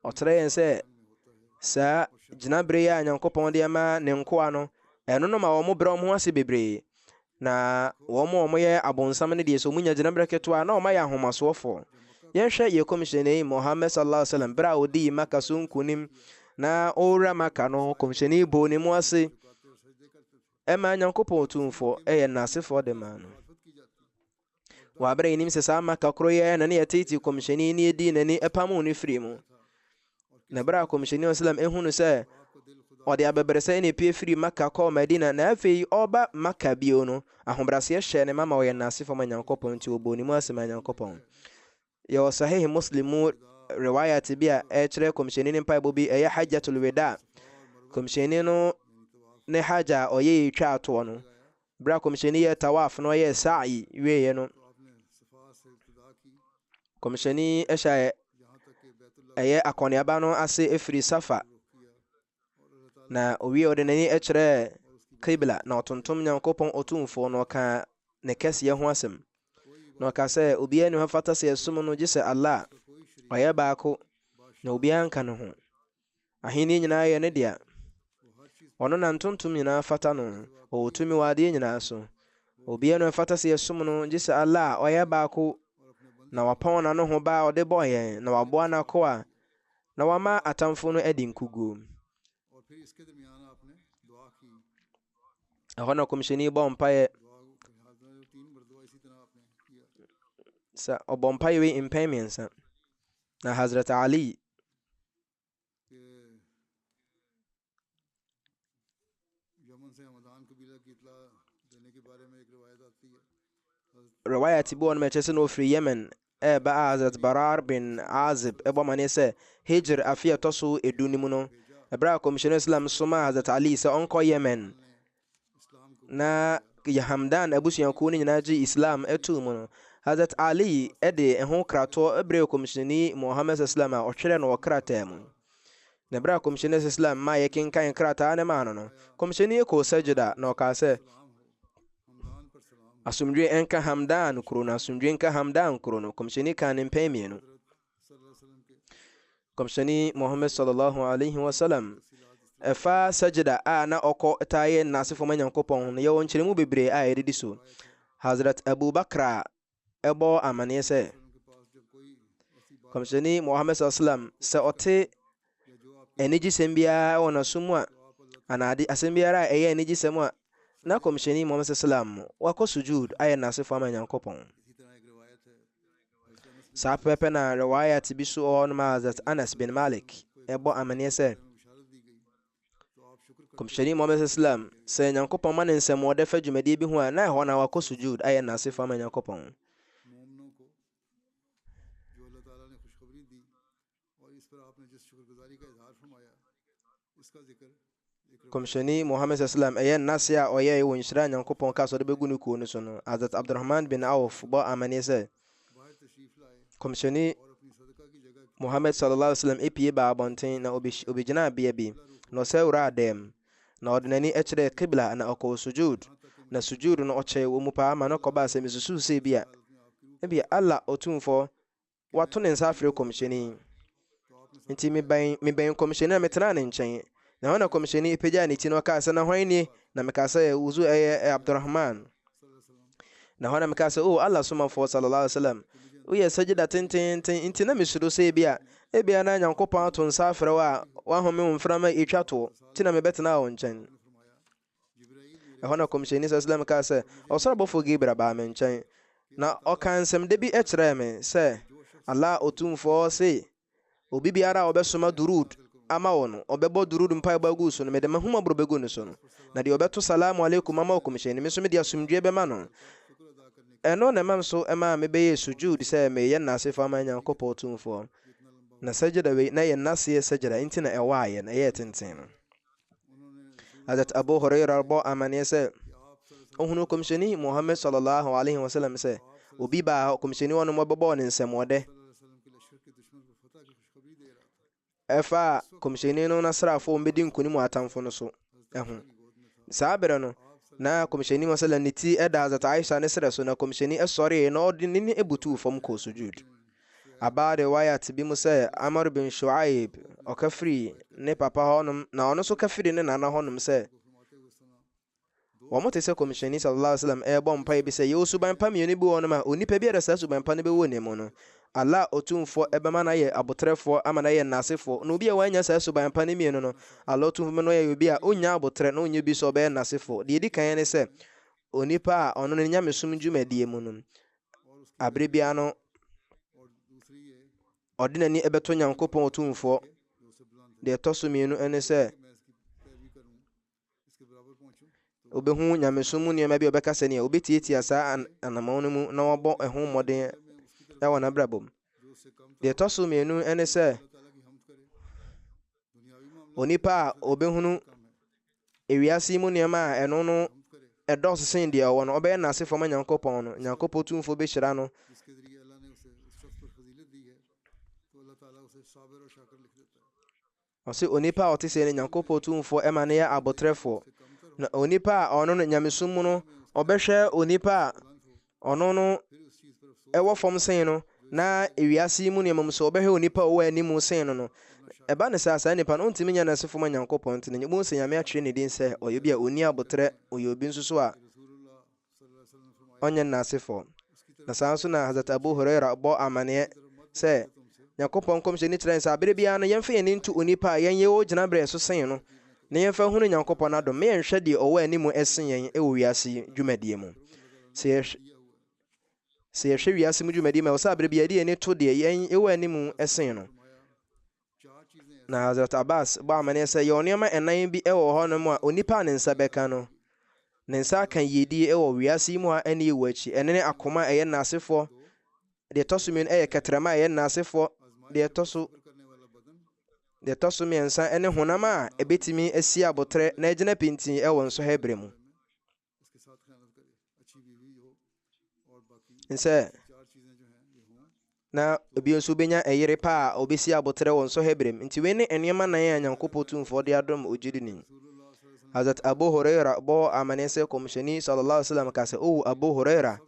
ɔkyerɛ yɛn sɛ saa gyinabere yi a nyankopɔn de ma ne nkoa no ɛno no ma wɔn brɛ wɔn ho ase bebree na wɔn a wɔyɛ abonsam no deɛ sɛ wɔnya gyinabere ketewa na wɔayɛ ahomasoɔfoɔ yɛnhwɛ yɛ kɔmhyɛni mohammed sallallahu alaihi wasallam berɛ a ɔdii maka so nkonim na ɔwura maka no kɔmhyɛni bɔɔ ne mu ase Ɛma Nyankopɔn Tumfoɔ yɛ N'asefoɔ de maa no. Wɔ aberɛ a yɛnim sɛ saa Maka koroyɛ na ne yɛtetee Kɔmhyɛni ne yɛdii n'ani pamoo no firii mu. Na berɛ a Kɔmhyɛni Islam ehunu sɛ ɔde abɛbrɛsɛ na epie firii Maka kɔɔ Madina na afei ɔreba Maka bio no, ahobrɛaseɛ hyɛɛ ne ma ma ɔyɛ N'asefoɔ ma Nyankopɔn nti ɔbɔɔ ne mu ase maa Nyankopɔn. Yɛwɔ Sahih Muslim mu riwayat bi a ɛkyerɛ Kɔmhyɛni no mpaebɔ bi, ɛyɛ Hajjatul Weda. Kɔmhyɛni no ne Hajj a ɔyɛe twaa toɔ no, berɛ a Kɔmhyɛni yɛɛ tawaf na ɔyɛɛ sa'i wieeɛ no, Kɔmhyɛni hyɛɛ ɛyɛ akɔneaba no ase firi Safa Na owie ɔde n'ani kyerɛɛ Qibla na ɔtontom Nyankopɔn Otumfoɔ na ɔkaa ne kɛseɛ ho asɛm. Na ɔka sɛ, obiara ni hɔ fata sɛ yɛsom no gye sɛ Allah, ɔyɛ baako, na obiara nka ne ho. Ahenni nyinaa yɛ ne dea. Ɔno na ntontom nyinaa fata no, ɔwɔ tumi wɔ adeɛ nyinaa so. Obiara ni hɔ fata sɛ yɛsom no gye sɛ Allah, ɔyɛ baako, na wapɔn n'ano ho ba a ɔde bɔɔ yɛn, na waboa n'akoa, Na wama atamfo no adi nkoguo. Ɛhɔ na kɔmhyɛni bɔ mpaeɛ. Sɛ ɔbɔ mpaeɛ wei mpɛn mmiɛnsa. Na Hazrat Ali Rewayat bi wɔ no ma ɛkyerɛ sɛ na ɔfiri Yemen ɛreba a Hazrat Barar bin Azib ɛbɔ amaneɛ sɛ Hijr afe a ɛtɔ so edu no mu no ɛberɛ a Kɔmhyɛni Islam somaa Hazrat Ali sɛ ɔnkɔ Yemen na Hamdan abusuakuo no nyinaa gye Islam too mu no, Hazrat Ali de ɛho kratoɔ brɛɛ kɔmhyɛni Muhammad sallam a ɔtwerɛ no wɔ krataa mu. Na berɛ a kɔmhyɛni sallam ma yɛkenkan krataa no maa no no, kɔmhyɛni kɔɔ sajida na ɔkaa sɛ, asomdwe nka Hamdan kuro no, asomdwe nka Hamdan kuro no. Kɔmhyɛni kaa ne mpɛn mmienu. Kɔmhyɛni Muhammad sallallahu alaihi wasallam ɛfa sajida a na ɔkɔ taa yɛ n'asefo ma Nyankopɔn ho no yɛwɔ nkyerɛmu bebree a yɛde di so. Hazrat Abu Bakra ɛbɔ amaneɛ sɛ Kɔmhyɛni Muhammad sallallahu alaihi wasallam sɛ ɔte anigyesɛm biara wɔ n'aso mu a, anaa ade asɛm biara a ɛyɛ anigyesɛm a, na Kɔmhyɛni Muhammad sallam wakɔ sujuud ayɛ n'asefo ama Nyankopɔn. Saa pɛpɛpɛ na riwayat bi so wɔ hɔ nom a Hazrat Anas bin Malik ɛbɔ amaneɛ sɛ, Kɔmhyɛni Muhammad sallam sɛ Nyankopɔn ma ne nsɛm wɔde fa dwumadie bi ho a, na ɛhɔ na wakɔ sujuud ayɛ n'asefo ama Nyankopɔn. Kɔmhyɛni Muhammad sallam ɛyɛ n'ase a ɔyɛe wɔ nhyira a Nyankopɔn ka sɛ ɔde bɛgu ne kuo no so no, Hazrat Abdurrahman bin Auf bɔ amanneɛ sɛ, Kɔmhyɛni Muhammad sallallahu alaihi wasallam epie baa abɔnten na obegyinaa bea bi, na ɔsɛ wuraa dan mu, na ɔde n'ani kyerɛɛ Qibla na ɔkɔɔ sujud, na sujud no ɔkyɛe wɔ mu paa ma no kɔbaa sɛ misusuw sɛ ebia, ebia Allah Otumfoɔ wato ne nsa afrɛ kɔmhyɛni. Enti mebɛn mebɛn kɔmhyɛni na metenaa ne nkyɛn. Na ɛhɔ na kɔmhyɛni pagyaa ne ti na ɔkaa sɛ, Na hwan nie? Na mekaa sɛ, Wuzu ɛyɛ eh, Abdurrahman. Na ɛhɔ na mekaa sɛ, O Allah somafoɔ sallallahu alaihi wasallam, woyɛ sajida tenteenten, enti na mesuro sɛ ebia, ebia na Nyankopɔn ato nsa afrɛ wo a, w'ahome wo mframa atwa toɔ, nti na mebɛtenaa wo nkyɛn. Ɛhɔ na Kɔmhyɛni Salsalam kaa sɛ, Ɔsoro bɔfoɔ Gabriel baa me nkyɛn, na ɔkaa nsɛmda bi kyerɛɛ me sɛ, Allah Otumfoɔ se, Obi biara a ɔbɛsoma Durood ama wo no, ɔbɛbɔ Durood mpaebɔ agu so no, mede m'ahummɔborɔ bɛgu ne so no, na deɛ ɔbɛto Salaamu Alaikum ama wo Kɔmhyɛni, me nso mede asomdwoeɛ bɛma no. Ɛno na ɛma nso ɛmaa me bɛyɛɛ Sujuud sɛ mereyɛ nnasefoɔ ama Nyankopɔn Otumfoɔ. Na Sajda wei, na ɛyɛ nnaseɛ Sajda, enti na ɛwɔ ayɛ no, ɛyɛɛ tenten no. Hazrat Abu Huraira bɔ amanneɛ sɛ ɔhunu kɔmhyɛni Muhammad sallallahu alaihi wasallam sɛ obi baa hɔ kɔmhyɛni hɔ no mɔbɛbɔɔ ne nsɛmɔdɛ ɛfa a kɔmhyɛni no nasraafoɔ mbɛdi nkonim atamfo no so ɛho saa berɛ no na kɔmhyɛni mu sallam ne ti ɛda Hazrat Aisha ne serɛ so na kɔmhyɛni ɛsɔree na ɔde ne ne ɛbutuu fam kɔɔ sujud Aba riwayat bi mu sɛ Amr bin Shu'aib, ɔka firi ne papa hɔnom, na ɔno nso ka firi ne nana hɔnom sɛ, wɔn te sɛ kɔmhyɛni sallallahu alaihi wasallam ɛrebɔ mpae bi sɛ yɛwɔ suban pa mmienu bi wɔ hɔnom a onipa biara saa suban pa no bɛwɔ ne mu no Allah Otumfoɔ ɛbɛma no ayɛ abotrɛfoɔ ama no ayɛ nnasefoɔ na obi a wannya saa suban pa no mmienu no Allah Otumfoɔ bɛma no ayɛ obi a ɔnnya abotrɛ na ɔnnya bi sɛ ɔbɛyɛ nnasefoɔ deɛ ɛdi kan ne sɛ onipa a ɔno no nyamesom dwumadie mu no abere biara no ɔde n'ani bɛto nyankopɔn ɔtumfoɔ deɛ ɛtɔ so mmienu ne sɛ wobɛhu nyamesom mu nneɛma bi a ɔbɛka sɛ neɛ wobɛtiatia saa anamɔn no mu na wɔbɔ ɛho mmɔden wɔ n'abrabɔ mu deɛ ɛtɔ so mmienu ne sɛ Onipa a ɔbɛhunu ewiase yi mu nneɛma a ɛno no ɛdɔɔso sen deɛ ɔwɔ no, ɔbɛyɛ n'ase fam Nyankopɔn no. Nyankopɔn tumfoɔ bɛhyira no. Ɔse onipa a ɔte sɛ no Nyankopɔn tumfoɔ ɛma no yɛ abotrɛfoɔ. Na onipa a ɔno no nyamesom mu no, ɔbɛhwɛ onipa a Ɔno no wɔ fam sen no, na ewiase yi mu nneɛma mu sɛ wɔbɛhwɛ onipa a ɔwɔ anim sen no no, ɛba no saa, saa nipa no, ontumi nyɛ n'asefo ma Nyankopɔn, nti no, bohu sɛ Nyame atwerɛ ne din sɛ ɔyɛ obi a onni aboterɛ, ɔyɛ obi nso so a ɔnyɛ n'asefoɔ. Na saa nso na Hazrat Abu Huraira bɔ amaneɛ sɛ, Nyankopɔn nkɔmhyɛni kyerɛ sɛ aberɛ biara no yɛmfa yɛn ani nto onipa a yɛnyɛ wɔ gyinaberɛ so sen no, na yɛmfa nhunu Nyankopɔn n'adom na yɛnhwɛ deɛ ɔwɔ anim sen yɛn wɔ wiase yi dwumadie mu. Sɛ yɛhwɛ sɛ yɛhwɛ wiase mu dwumadie mu a, ɛwɔ sɛ aberɛ biara yɛde yɛn ani to deɛ yɛn wɔ anim sen no. Na Hazrat Abbas bɔ amaneɛ sɛ yɛwɔ nneɛma ɛnan bi wɔ hɔnom a onipa a ne nsa bɛka no, ne nsa aka yiedie wɔ wiase yi mu a ɛne yɛwɔ akyi. Ɛno ne akoma a ɛyɛ nnasefoɔ Deɛ ɛtɔ so mmienu yɛ kɛtrɛma a ɛyɛ nnaasefoɔ, deɛ ɛtɔ so deɛ ɛtɔ so mmiɛnsa ne honam a ɛbɛtumi asi aboterɛ na agyina pintinn wɔ nsɔhwɛ berɛ mu. Nsɛ na obi nso bɛnya ɛyere pa a ɔbɛsi aboterɛ wɔ nsɔhwɛ berɛ mu. Nti wei ne nneɛma nan a Nyankopɔn tumfoɔ de adom ogyidini. Hazrat Abu Huraira bɔɔ amanneɛ sɛ kɔmhyɛni sallallahu alaihi wasallam ka sɛ, O Abu Huraira,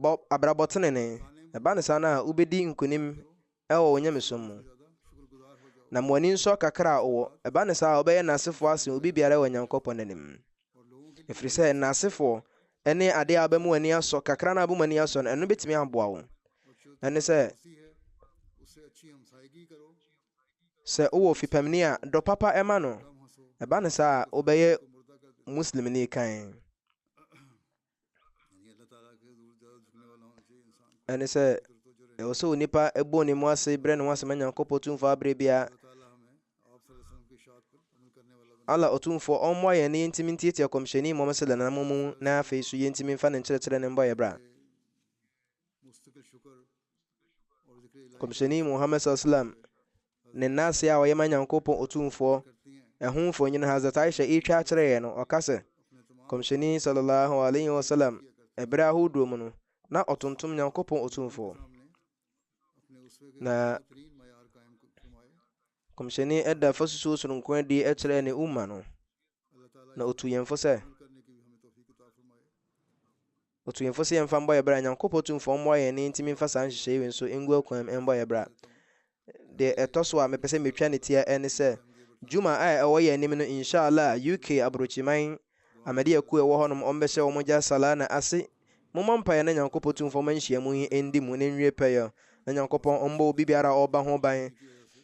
Bɔ abrabɔ tenenee. Ɛba no saa no a, wobɛdi nkonim wɔ wo nyamesom mu. Na ma w'ani nsɔ kakra a wowɔ. Ɛba no saa a, wobɛyɛ nnasefoɔ asen obi biara wɔ Nyankopɔn anim. Ɛfiri sɛ, nnasefoɔ ne adeɛ a wobɛma w'ani asɔ, kakra no a wobɛma w'ani asɔ no, ɛno bɛtumi aboa wo. Ɛne sɛ, sɛ wowɔ ofipamni a, dɔ papa ɛma no. Ɛba no saa a, wobɛyɛ Muslimni kan. ɛne sɛ ɛwɔ sɛ onipa ɛbɔ ne mu ase brɛ ne ho asɛma nyankopɔn tumfoɔ aberɛ biara ala ɔtumfoɔ ɔmmoa yɛn na yɛntumi ntiatia kɔmhyɛni mmɔm sɛ lananam mu na afei so yɛntumi mfa ne nkyerɛkyerɛ ne mbɔ yɛ bra kɔmhyɛni muhammad sallam Ne nna ase a ɔyɛ ma Nyankopɔn Otumfoɔ, ɛho mfonyin Hazrat Aisha retwa akyerɛ yɛn no, ɔka sɛ, Kɔmhyɛni Sallallahu Alaihi Wasallam, bere ahodoɔ mu no, na ɔtontom Nyankopɔn Otumfoɔ. Na Kɔmhyɛni da fasusuo soronko adi kyerɛ ne umma no, na ɔtu yɛn fo sɛ, Otu yɛn fo sɛ yɛmfa mbɔ yɛn bra. Nyankopɔn Tumfoɔ mmoa yɛn na yɛntumi mfa saa nhyehyɛe wei nso ngu akuam mbɔ yɛn bra. Deɛ ɛtɔ so a mepɛ sɛ metwa no tia ne sɛ, Juma a ɛwɔ yɛn anim no, Insha'Allah, UK Aburokyiman Ahmadiyya kuo a ɛwɔ hɔnom, wɔbɛhyɛ wɔn gya Salah no ase. Mommɔ mpaeɛ na Nyankopɔn Tumfoɔ mma nhyiamu yi ndi mu na ɛnwie pɛyɛ, na Nyankopɔn mmɔ obibiara a ɔreba ho ban.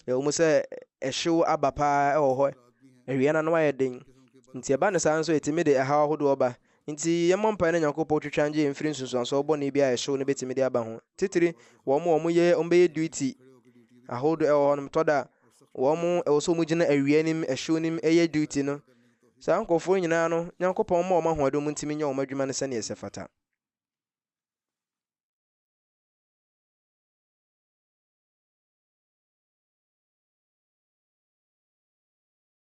Ɛwɔ mu sɛ ɛhyew aba paa wɔ hɔ, awia no ano ayɛ den, nti ɛba no saa nso a ɛtumi de ɛhaw ahodoɔ ba, Ntsi yɛmmɔ mpae na Nyankopɔn twetwe angyee mfir nsunsuansow bɔne bi a hyew no betumi dze aba ho. Tsitsir, wɔ mo a wɔyɛ wɔbɛyɛ duty ahorow do wɔ hɔ no, tɔ da a, wɔn ɛwɔ sɛ wɔgyina awia no mu, hyew no mu yɛ duty no. Saa nkorɔfoɔ no nyinaa no, Nyankopɔn mma wɔn ahoɔden wɔn ntumi nyɛ wɔn adwuma no sɛdeɛ ɛsɛ fata.